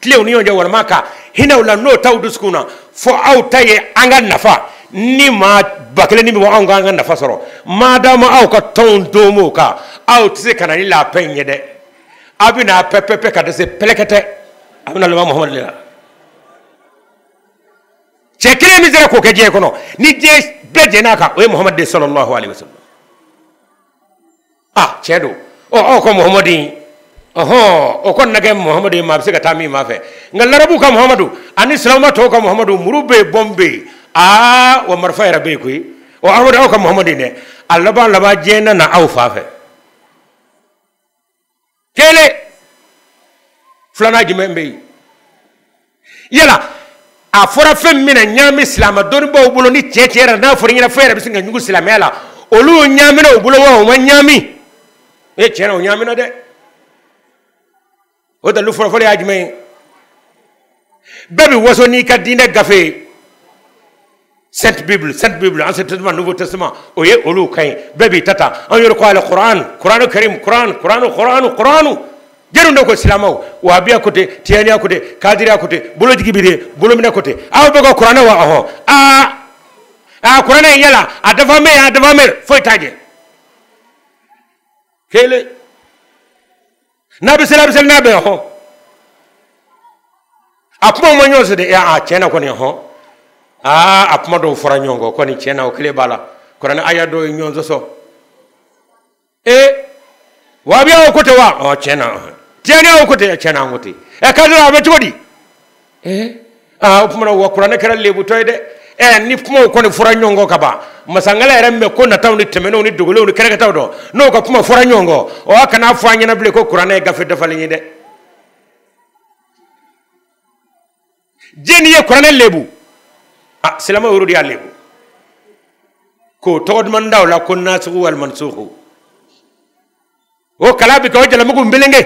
A: tilen u ni ɲɔgɔn cɛ walima ka hinɛ u la n'o t'aw dusukun na fo aw ta ye an ka nafa ni maa ba kelen ni bɛ anw ka an ka nafa sɔrɔ maadama aw ka tɔnw don o kan aw tɛ se ka na ni la paix in ye dɛ aw bɛ na paix paix paix ka dɛsɛ pɛlɛkɛtɛ a bɛ na laban muhamadu de la cɛ kelen min sera k'o kɛ diɲɛ kɔnɔ ni diɲɛ bɛɛ jɛn'a kan o ye muhamadu de sallallahu alaihi wasallam a tiɲɛ don ɔ aw ka muhamadu in ɔhɔn o kɔni na kɛ muhamadu ye maa bɛ se ka taa min ma fɛ nka larabu ka muhamadu ani silamɛ tɔw ka muhamadu muru bɛ yen bɔnbu bɛ yen aa wa marifa yɛrɛ bɛ yen koyi ɔ aw de aw ka muhamadu in dɛ a laban laban diɲɛ na na aw fan fɛ kelen filanan jumɛn bɛ yen yala a fɔra fɛn min na ɲaami silamɛ dɔnnibaaw bolo ni tiɲɛ tiɲɛ yɛrɛ n'a fɔra i ɲɛna fɛn yɛrɛ bɛ sin ka ɲugu silamɛya la olu ɲaamina u bolo wa u ma ɲaami e tiɲɛ na u ɲaamina dɛ o dalilu fɔlɔfɔlɔ ye jumɛn ye bɛɛ b'i waso n'i ka diinɛ gafe ye sainte bible sainte bible ancien testament nouveau testament o ye olu kan ye bɛɛ b'i ta ta an yɛrɛ ko al kuran kuranu karim kuran kuranu kuranu kuranu jɛnw de ko silamaw wahabiya ko ten tiyaniya ko ten kadiriya ko ten bolojigi bi de bolominɛ ko ten aw bɛɛ ka kuranɛ wa ɔhɔ aa aa kuranɛ in yala a dafa mɛ a dafa mɛ foyi t'a jɛ kelen n'a bɛ seli a bɛ seli n'a bɛ hɔn a kuma ma ɲɔgɔn sɔsɔ dɛ a tiɲɛ na kɔni hɔn aa a kuma dɔw fɔra ɲɔgɔn kɔ kɔni tiɲɛ na o kelen b'a la kuranɛ aya dɔw ye ɲɔgɔn sɔsɔ ee wahabiyaw ko ten wa ɔ tiɲɛ na tiyaniyaw ko ten tiɲɛ na an ko ten ɛ k'a sɔrɔ a bɛ cogo di eh aa o tuma wa kuranɛ kɛra lebutɔ ye dɛ ɛ ni kumaw kɔni fɔra ɲɔgɔn kɔ ka ban masa ngala yɛrɛ min bɛ ko nataw ni tɛmɛnenw ni dogolenw ni kɛnɛkantaw dɔn n'o ka kuma fɔra ɲɔgɔn kɔ ɔ kan'a fɔ an ɲɛna bilen ko kuranɛ ye gafe dafalen ye dɛ jɛni ye kuranɛ lebu a ah, silama yɛrɛw de y'a lebu k'o tɔgɔ duman da o la ko nasuku wal mansuku o kala bɛ kɛ o jalamugu melenge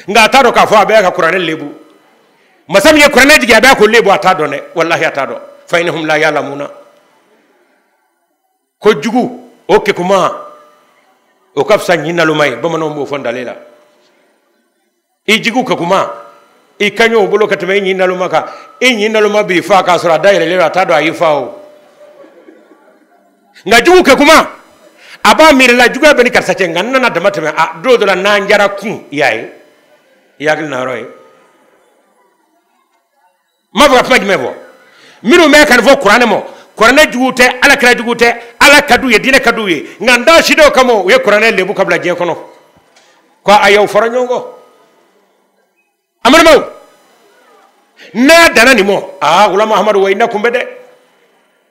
A: nka a t'a dɔn k'a fɔ a bɛ ka kuranɛ lebu masa min ye kuranɛ jigin a bɛ k'o lebu a t'a dɔn dɛ walahi a t'a dɔn fa innahum la ya'lamuna ko jugu o kekuma o ka fisa ɲin naloma ye bamananw b'o fɔ ndale la i jugu kekuma i ka ɲi o bolo ka tɛmɛ i ɲin naloma kan i ɲin naloma b'i fa k'a sɔrɔ a dayɛlɛlen don a t'a dɔn a y'i fa o nka jugu kekuma a b'a miirila juguya bɛ n ni karisa cɛ nka n nana dama tɛmɛ a don dɔ la n'an jara kun i y'a ye i hakili na yɔrɔ ye ma fɔ ka kuma jumɛn fɔ minnu bɛ ka nin fɔ kuranɛ ma kuranɛ jugu tɛ ala kira jugu tɛ ala ka d'u ye diinɛ ka d'u ye nka n da si dɔw kama u ye kuranɛ lebu ka bila diɲɛ kɔnɔ ko a y'aw fara ɲɔgɔn kan amadu n'a danna nin ma aa wala mahamadu wa i na kun bɛ dɛ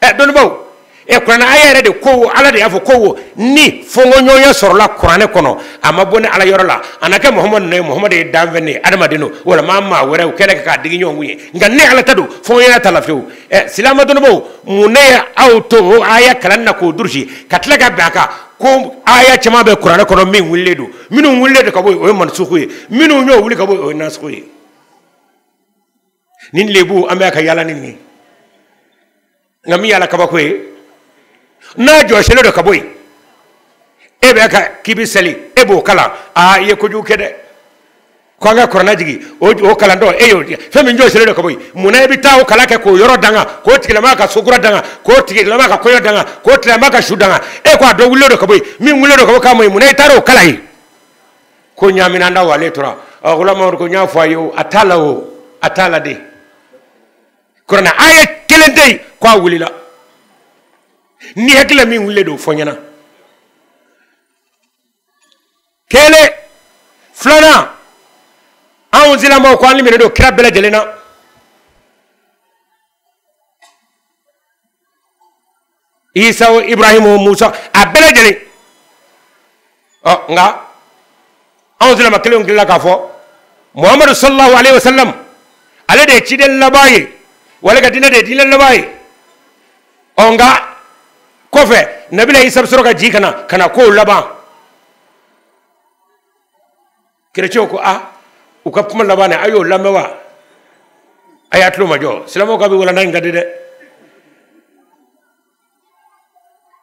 A: ɛ dɔnnibaw ɛ kuranɛ aya yɛrɛ de ko ala de y'a fɔ ko ni fɔnkɔɲɔgɔnya sɔrɔla kuranɛ kɔnɔ a ma bɔ ne ala yɔrɔ la a na kɛ muhamadu nɔ ye muhamadu ye danfɛn de ye adamaden don walama maa wɛrɛ u kɛlen k'a digi ɲɔgɔn kun ye nka ne ala ta don fɔnkɔɲɔgɔnya t'a la fiyewu ɛ silama dɔnnibaw mun de ye aw to o aya kalanni na k'o durusi ka tila ka bɛn a kan ko aya caman bɛ kuranɛ kɔnɔ min wulilen don minnu wulilen don ka bɔ yen o ye mansuku ye minnu y'o wuli ka bɔ yen o ye nasiku ye nin lebu an bɛ ka yala ni nin nka min y'a la kabako ye n'a jɔsilen don ka bɔ yen e bɛ ka k'i bɛ seli e b'o kalan aa i ye kojugu kɛ dɛ ko an ka kurana jigin o o kalantɔ e y'o fɛn min jɔsilen don ka bɔ yen mun na i bɛ taa o kalan kɛ k'o yɔrɔ danga k'o tigilamaa ka sokura danga k'o tigilamaa ka kɔɲɔ danga k'o tigilamaa ka su danga e ko a dɔ wulilen don ka bɔ yen min wulilen don ka bɔ k'a ma yen mun na i taara o kalan yen ko ɲaminaan da wale tora akula mamadu ko n y'a fɔ a ye o a t'a la o a t'a la dɛ kurana aya kelen tɛ yen ko a wulila ni hakilila min wulilen don fɔ ɲɛna kelen filanan anw silamɛw ko an liminen don kira bɛɛ lajɛlen na isa o ibrahim o musa a bɛɛ lajɛlen ɔ nka anw silama kelenw tilala k'a fɔ muhamadu sallallahu alaihi wasallam ale de ye ciden laban ye wa ale ka diinɛ de ye diinɛ laban ye ɔ nka kɔfɛ nabila isa bɛ sɔrɔ ka jigin ka na ka na kow laban kerecɛnw ko a u ka kuma laban ne a y'o lamɛn wa a y'a tulo majɔ silamɛw ka bi walanda in ka di dɛ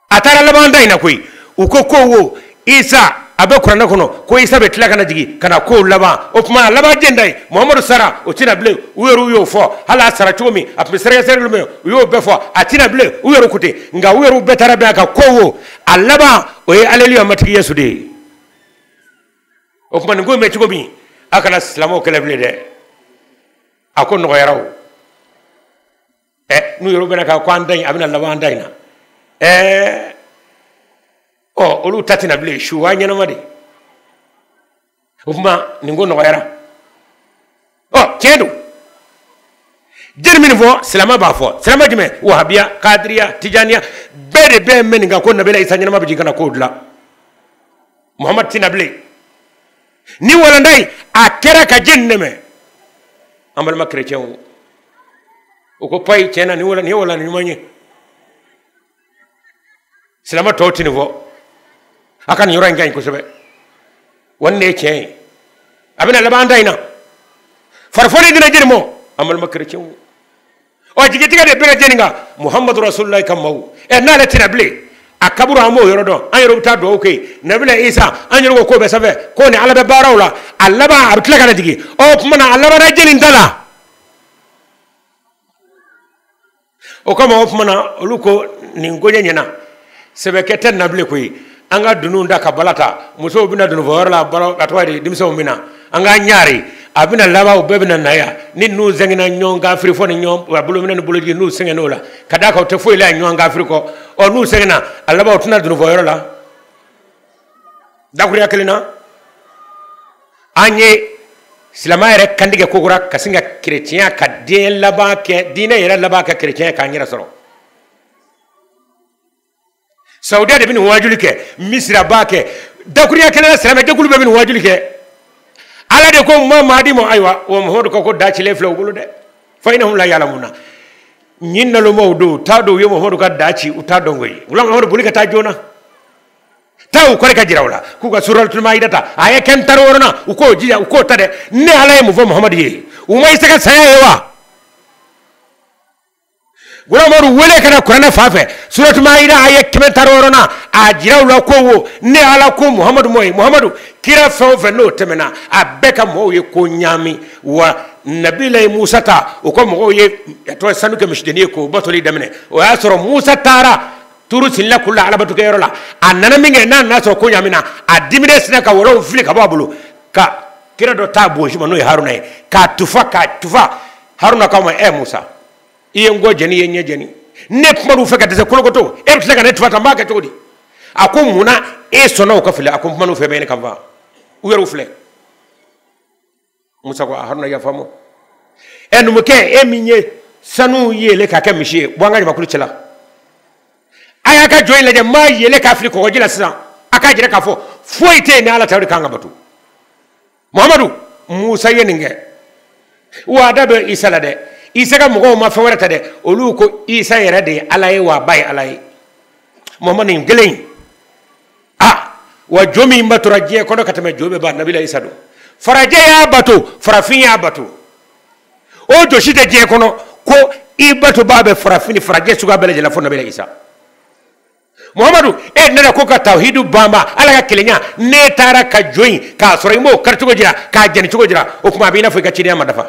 A: a taara laban an ta in na koyi u ko ko wo isa a bɛ kuranɛ kɔnɔ ko isa bɛ tila ka na jigin ka na kow laban o tuma a laban jɛn ta ye muhamadu sara o tɛ na bilen u yɛrɛw y'o fɔ hali a sara cogo min a tun bɛ sɛrɛgɛsɛrɛli min u y'o bɛɛ fɔ a tɛ na bilen u yɛrɛw ko ten nka u yɛrɛw bɛɛ taara bɛn a kan ko wo a laban o ye aleluya matigi yesu de ye o tuma nin ko in bɛ cogo min a kana silamɛw kɛlɛ bilen dɛ a ko nɔgɔyara o ɛ n'u yɛrɛ bɛnna a kan ko an ta in a bɛna laban an ta in na ɛɛ ɔ olu ta tɛ na bilen suwa ɲɛnama de o tuma nin ko nɔgɔyara ɔ tiɲɛ don jiri min fɔ silamɛ b'a fɔ silamɛ jumɛn wahabiya kadiriya tijaniya bɛɛ de bɛ bɛn nin kan ko nabila isa ɲɛnama bɛ jigin ka na ko dilan muhamadu tɛ na bilen nin walanda in a kɛra ka jeni dɛmɛ an balima kerecɛnw o ko payi tiɲɛ na nin ye walanda ɲuman ye silama tɔw tɛ nin fɔ a ka nin yɔrɔ in ka ɲi kosɛbɛ wa nin de ye tiɲɛ ye a bɛna laban da in na farifoni dina jiri mɔ an balima kerecɛnw ɔ jigitigɛ de bɛna jeni kan muhamadu rasulilayi ka maaw ɛ n'ale tɛ na bilen a kaburu an b'o yɔrɔ dɔn an yɛrɛ bɛ taa dugawu kɛ yen nabila isa an yɛrɛ ko k'o bɛ sanfɛ ko ni ala bɛ baaraw la a laban a bɛ tila ka na jigin ɔ o tuma na a labanna jeni da la o kama o tuma na olu ko nin koɲɛ ɲɛna sɛbɛkɛ tɛ na bilen koyi an ka dununw da ka bala ta musow bɛ na dununfɔyɔrɔ la balo ka tɔgɔ di denmisɛnw bɛ na an k'an ɲaari a bɛna laban u bɛɛ bɛna na yan ni ninnu sɛgɛnna ɲɔgɔn kafirifɔ ni ɲɔgɔn bolominɛ ni boloji n'u sɛgɛnna o la ka d'a kan u tɛ foyi la ɲɔgɔn kafiri kɔ ɔ n'u sɛgɛnna a laban u tɛ na dununfɔyɔrɔ la dakuruya kelen na an ye silama yɛrɛ kantigɛ kokura ka sin ka kerecɛnya ka diɲɛ laban kɛ diinɛ yɛrɛ laban kɛ kerecɛnya k'an yɛrɛ sɔrɔ saudiya de bɛ nin wajuli kɛ misira b'a kɛ dakuruya kelen na silamɛ jɛkulu bɛɛ bɛ nin wajuli kɛ ala de ko mahadi ma ayiwa wa muhamadu ko ko da cilen filɛ u bolo dɛ fa ina hum la ya'lamuna nin nalomaw don u t'a dɔn u ye muhamadu ka da ci u t'a dɔn koyi wuli muhamadu boli ka taa joona taa u kɔrɔ k'a jira u la k'u ka suratuli mayida ta aya kɛmɛ tan ni wɔɔrɔnan u k'u jija u k'o ta dɛ ne ala ye mun fɔ muhamadu ye u ma isa ka saya ye wa muhamadu wele ka na kuranɛ fan fɛ suratuli mayida aya kɛmɛ tan ni wɔɔrɔnan a jira u la ko wo ne ala ko muhamadu ma e muhamadu kira fɛn o fɛn n'o tɛmɛna a bɛɛ ka mɔgɔw ye ko ɲaami wa nabilayi musa ta o ka mɔgɔw ye tulo sanu kɛ misidennin ye k'o batoli daminɛ o y'a sɔrɔ musa taara turu sinina kulu la alabatokɛyɔrɔ la a nana min kɛ n'a nana sɔrɔ ko ɲaamina a diminen sinna ka walanw fili ka bɔ a bolo ka kira dɔ t'a bonsi ma n'o ye haruna ye k'a tufa k'a tufa haruna k'a ma ɛ musa i ye n kɔ jɛni i ye n ɲɛ jɛni ne kuman'u fɛ ka dɛsɛ kolokoto e bɛ tila ka ne tufa ta n b'a kɛ cogo di a ko mun na e sɔnna u ka fili a ko n kuman'u fɛ bɛ ɲini ka n faga u yɛrɛw filɛ musa ko a haruna yafa n ma e numukɛ e min ye sanu yeele k'a kɛ misi ye bɔ an ka jamakulu cɛla a y'a ka jo in lajɛ n b'a yeele k'a fili kɔgɔji la sisan a k'a jira k'a fɔ foyi tɛ yen ni ala tɛ o de kan ka bato muhamadu musa ye nin kɛ wa a da bɛ isa la dɛ isa ka mɔgɔw ma fɛn wɛrɛ ta dɛ olu ko isa yɛrɛ de ye ala ye wa a ba ye ala ye muhamadu nin kelen in a wa jo min batora diɲɛ kɔnɔ ka tɛmɛ jo bɛɛ ba nabila isa don farajɛ y'a bato farafin y'a bato o jo si tɛ diɲɛ kɔnɔ ko i batobaa bɛ farafin ni farajɛ suguya bɛɛ lajɛlen na fo nabila isa muhamadu e nana ko ka tawhidu banban ala ka kelenya n'e taara ka jo in k'a sɔrɔ i m'o kari cogo jira k'a jɛni cogo jira o tuma a b'i n'a fɔ i ka cidenya ma dafa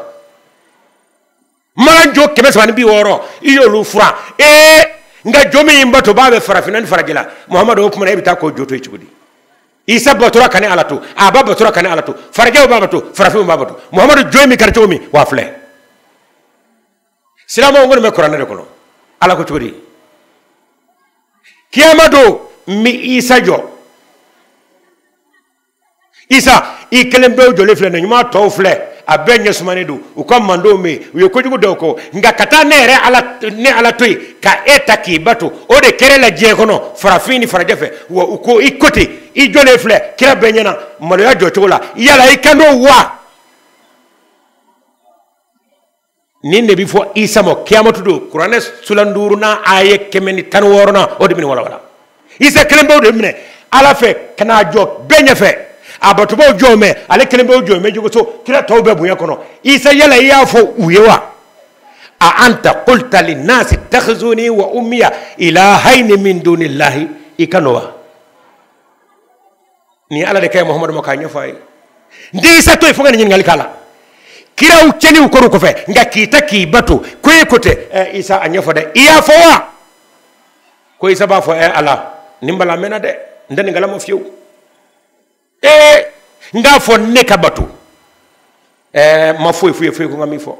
A: mana jo kɛmɛ saba ni bi wɔɔrɔ i y'olu furan ee nka jo min y'i batobaa bɛ farafinna ni farajɛla muhamadu o tuma na e bɛ taa k'o jo to yen cogo di isa batora ka ne ala to a ba batora ka ne ala to farajɛw b'a bato farafinw b'a bato muhamadu jo in bɛ kari cogo min wa filɛ silamɛw kɔni bɛ kuranɛ de kɔnɔ ala ko cogo di kiyama don n bɛ isa jɔ isa i kelen pewu jɔlen filɛ nin ɲuman tɔw filɛ a bɛɛ ɲɛ sumanen don u ka mandenw bɛ yen u ye kojugu dɔw kɛ nka ka taa ne yɛrɛ ala ne ala to yen ka e ta k'i bato o de kɛra e la diɲɛ kɔnɔ farafin ni farajɛ fɛ wa u ko i ko ten i jɔlen filɛ kira bɛɛ ɲɛna maloya jɔcogo la yala i kan don wa nin de bɛ fɔ isa ma kiyamatu don kuranɛ suran duurunan aya kɛmɛ ni tan wɔɔrɔnan o de bɛ nin walawala isa kelen pewu de bɛ minɛ ala fɛ ka n'a jɔ bɛɛ ɲɛfɛ a batobaw jɔlen bɛ ale kelen pewu jɔlen bɛ jogoso kira tɔw bɛ bonya kɔnɔ isa yala i y'a fɔ u ye wa a anta qulta linnasi ittakhizuni wa ummiya ilahaini min dunillahi i kan don wa nin ye ala de kan ye muhamadu ma k'a ɲɛfɔ a ye n tɛ isa to yen fo n ka nin ɲininkali k'a la kiraw cɛniw kɔrɔ kɔfɛ nka k'i ta k'i bato ko e ko tɛ ɛ isa a ɲɛfɔ dɛ i y'a fɔ wa ko isa b'a fɔ ɛ ala nin balalen bɛ n na dɛ n tɛ nin kalama fiyewu ee n k'a fɔ ne ka bato ɛɛ n ma foyi f'u ye fo i ko n ka min fɔ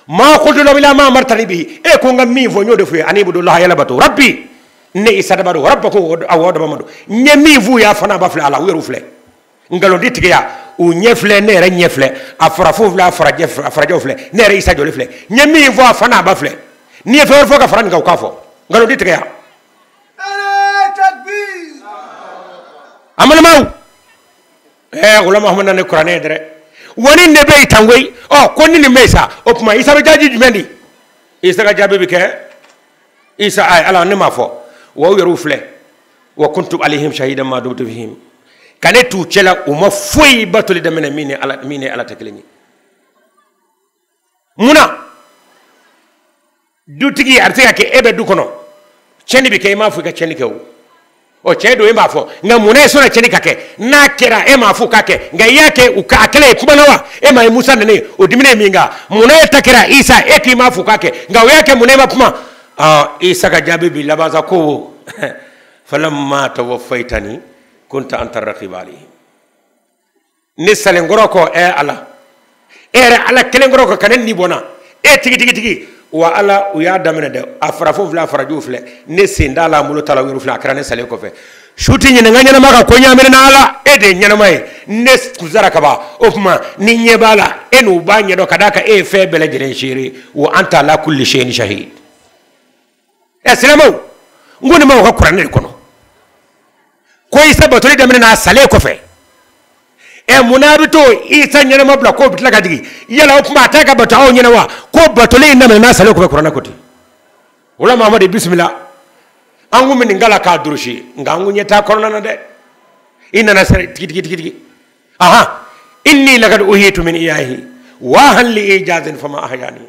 A: ma qultu lahum illa ma amartani bihi e ko n ka min fɔ n y'o de f'u ye ani ibudullaha a ye ala bato rabbi ne isa daba don rabbakum aw daba ma don n ye min f'u ye a fana ba filɛ ala u yɛrɛw filɛ nkalon tɛ tigɛ yan u ɲɛ filɛ ne yɛrɛ ɲɛ filɛ a farafinw filɛ a farajɛ a farajɛw filɛ ne yɛrɛ isa jɔlen filɛ n ye min fɔ a fana a ba filɛ ni n ye fɛn wɛrɛ fɔ ka fara nin kan u k'a fɔ nkalon tɛ tigɛ yan amalamaw ɛɛ wula muhamadu na ne kuranɛ ye dɛrɛ wa nin de bɛ yen tan koyi ɔ ko ni nin bɛ yen sa o tuma isa bɛ jaabi jumɛn di isa ka jaabi bɛ kɛ isa ayi ala ne m'a fɔ wa u yɛrɛw filɛ wa kuntu alayhim shahidan ma dumtu fihim ka ne t'u cɛla u ma foyi batoli daminɛ min ni ala min ni ala tɛ kelen ye mun na dutigi a bɛ se ka kɛ e bɛ du kɔnɔ tiɲɛni bɛ kɛ i m'a fɔ i ka tiɲɛni kɛ o ɔ tiɲɛ don e m'a fɔ nka mun na e sɔnna tiɲɛni ka kɛ n'a kɛra e m'a fɔ k'a kɛ nka i y'a kɛ u ka a kɛlen e kumana wa e m'a ye musa nana ye o dimina ye min kan mun na e ta kɛra isa e k'i m'a fɔ k'a kɛ nka o y'a kɛ mun na e ma kuma ɔ isa ka jaabi bi laban sa ko falamma tawaffaytani kunta anta raqiba alayhim ne salenkɔrɔ kɔ ɛ ala e yɛrɛ ala kɛlenkɔrɔ kɔ ka ne ni bɔ n na e tigi tigi tigi wa ala u y'a daminɛ dɛ a farafin filɛ a farajɛw filɛ ne sen t'a la n bolo t'a la u yɛrɛ filɛ a kɛra ne salen kɔfɛ su tɛ ɲininka ɲɛnama ka ko ɲaaminen na ala e de ye ɲɛnama ye ne kun sara ka ban o tuma n'i ɲɛ b'a la e n'u b'a ɲɛdɔn ka d'a kan e ye fɛn bɛɛ lajɛlen seere wa anta ala kulli shay'in shahid ɛ silamɛw n ko nin b'aw ka kuranɛ de kɔnɔ ko isa batoli daminɛn'a salen kɔfɛ ɛ mun na a bɛ to isa ɲɛnama bila k'o bɛ tila ka jigin yala o tuma a tɛ ka bato aw ɲɛ na wa ko batoli in daminɛn'a salen kɔfɛ kuranɛ ko ten o la mahamadu bisimila an kun bɛ nin kalan k'a durusi nka an kun ɲɛ t'a kɔnɔna na dɛ i nana sɛrɛ tigi tigi tigi tigi ahan inni laqad uhyitu min ihyaihi wahan li ijazin fama ahyani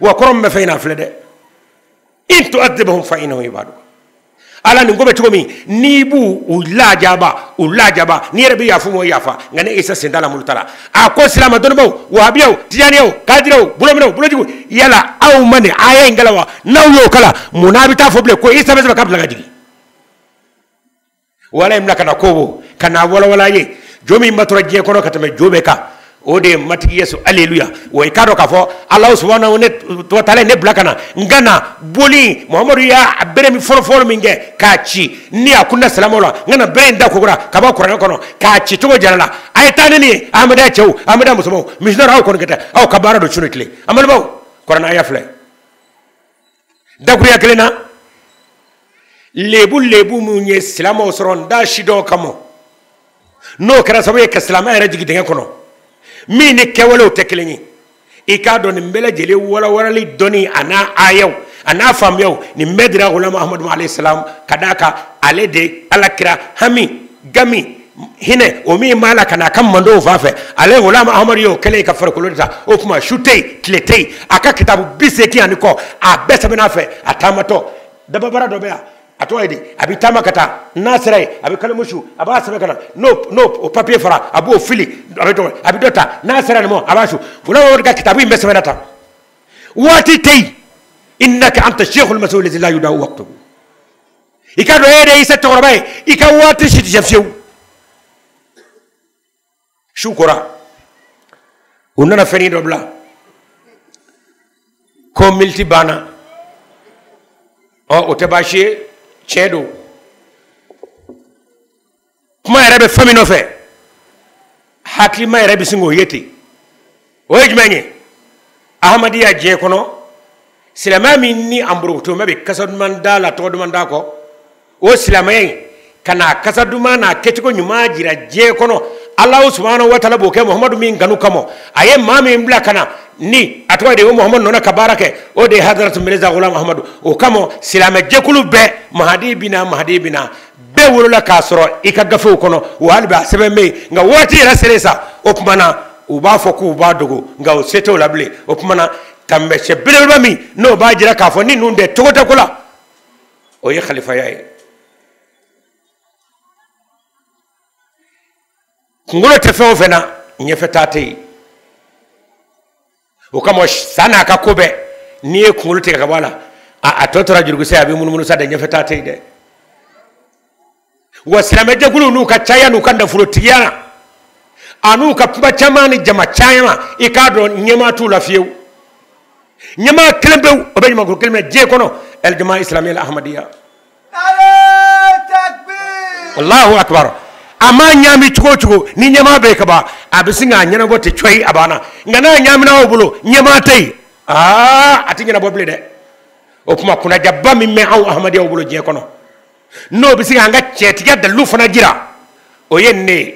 A: wa kɔrɔ min bɛ fɛn in na filɛ dɛ in tu'adhibhum fa innahum ibaduka ala nin ko bɛ cogo min n'i b'u lajaba u lajaba n'i yɛrɛ bɛ yafa u ma i yafa nka ne isa sen t'a la n bolo t'a la a ko silama dɔnnibaaw wahabiyaw tijaniyaw kadiraw bolominɛw bolojiginw yala aw ma nin aya in kalan wa n'aw y'o kalan mun n'a bɛ taa fɔ bilen ko isa bɛ sanfɛ k'a bɛ tila ka jigin wala in bila ka na kobo ka na walawala ye jo min batora diɲɛ kɔnɔ ka tɛmɛ jo bɛɛ kan o de ye matigi yesu aleluya wa i k'a dɔn k'a fɔ alahu subahanahu wa taala ne bila ka na n ka na boli muhamadu y'a a bere min fɔlɔfɔlɔ min kɛ k'a ci ni a kunda silamaw la n ka na bere in ta kokura ka bɔ kuranɛ kɔnɔ k'a ci cogo jara la a ye taa ni nin ye ahamada cɛw ahamada musomanw misiyɔnɛri aw kɔni kɛ tɛ aw ka baara don su ni tile amadu baw kuranɛ a y'a filɛ dakuruɲa kelen na lebu lebu minnu ye silamɛw sɔrɔ n da si dɔw kama n'o kɛra sababu ye ka silamɛ yɛrɛ jigin dingɛ kɔnɔ min ni kɛwalew tɛ kelen ye i k'a dɔn nin bɛɛ lajɛlen walawalali dɔnni a n'a aayaw a n'a faamuyaw nin bɛɛ dira gulamu ahamadu alayhi salam ka d'a kan ale de ala kira hami gami hinɛ o min b'a la ka n'a ka mantɔn fan fɛ ale gulamu amadu y'o kɛlen ka farikolo ta o tuma su tɛ yen tile tɛ yen a ka kitabu biseegin ani kɔ a bɛɛ sɛbɛnna a fɛ a taamatɔ dababara dɔ bɛ yan a tɔgɔ ye di a bɛ taama ka taa n'a sera yen a bɛ kalimu su a b'a sɛbɛn ka na n'o n'o o papiye fara a b'o fili a bɛ dɔgɔ a bɛ dɔ ta n'a sera nin ma a b'a su gulamu amadu ka kitabu in bɛɛ sɛbɛnna tan waati tɛ yen innaka anta sheikhul masihu lazi la yudawu waktuhu i k'a dɔn e yɛrɛ isa cɛkɔrɔba ye i ka waati si tɛ fiyewu su kora u nana fɛnnin dɔ bila ko militi banna ɔ o tɛ baasi ye tiɲɛ don kuma yɛrɛ bɛ fɛn min nɔfɛ hakilima yɛrɛ bɛ sin k'o ye ten o ye jumɛn ye ahamadiya diɲɛ kɔnɔ silamɛya min ni an borokotomɛ bɛ kasa duman da la tɔgɔ duman da kɔ o silamɛya in ka n'a kasa duman n'a kɛcogo ɲuman jira diɲɛ kɔnɔ alahu subahana wa taala b'o kɛ muhamadu min kanu kama a ye maa min bila ka na ni a tɔgɔ de ye o muhamadu nɔ na ka baara kɛ o de ye hadaratu mirza ghulam ahamadu o kama silamɛ jɛkulu bɛɛ mahadi bɛ na mahadi bɛ na bɛɛ wolola k'a sɔrɔ i ka gafew kɔnɔ wa hali bi a sɛbɛn bɛ yen nka waati yɛrɛ selen sa o tuma na u b'a fɔ k'u b'a dogo nka o se t'o la bilen o tuma na taamasiyɛn belebeleba min n'o b'a jira k'a fɔ ni ninnu tɛ cogo tɛ ko la o ye kalifaya ye kunkolo tɛ fɛn o fɛn na ɲɛfɛtaa tɛ yen o kama sa n'a ka ko bɛɛ n'i ye kunkolo tigɛ ka bɔ a la a tɔ tora jurukisɛ ye a bɛ munumunu sa dɛ ɲɛfɛ taa tɛ yen dɛ wa silamɛjɛkuluw n'u ka caya n'u ka nafolotigiya la an'u ka kuma caman ni jama caman i k'a dɔn ɲɛmaa t'u la fiyewu ɲɛmaa kelen pewu o bɛ jamakulu kelen minɛ diɲɛ kɔnɔ alijama isilamiya ahamadiya Allahu akbar a ma ɲaami cogo o cogo ni ɲɛmaa bɛ yen kaban a bɛ sin k'a ɲɛnabɔ ten coyi a banna nka n'a ɲaamina aw bolo ɲɛmaa tɛ yen aa a tɛ ɲɛnabɔ bilen dɛ o tuma kunnadiyaba min bɛ anw ahamadiyaw bolo diɲɛ kɔnɔ n'o bɛ se k'an ka tiɲɛtigiya dalilu fana jira o ye nin de ye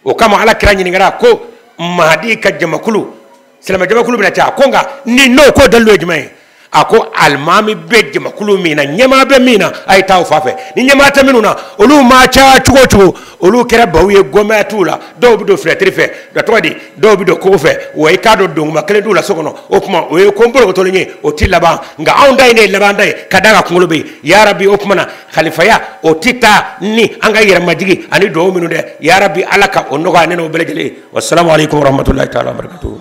A: o kama ala kira ɲininkara ko mahadi ka jamakulu silamɛ jamakulu bɛna caya ko nka ni n'o ko dalilu ye jumɛn ye a ko alimami bɛ jamakulu min na ɲɛmaa bɛ min na a ye taa o fan fɛ ni ɲɛmaa tɛ minnu na olu maa caya cogo o cogo olu kɛra baw ye gɛnbaa t'u la dɔw bɛ don finɛtiri fɛ nka tɔgɔ di dɔw bɛ don kogo fɛ wa i k'a dɔn donguma kelen t'u la so kɔnɔ o tuma o ye ko borokotolen ye o tɛ laban nka anw ta in de ye labanta ye ka d'a kan kunkolo bɛ yen yarabi o tuma na kalifaya o tɛ taa ni an ka yɛrɛmajigi ani dugawu minnu tɛ yarabi ala ka o nɔgɔya ne n'aw bɛɛ lajɛlen ye wasalaamu aleykum warahmatulahi taala wabarakatuhu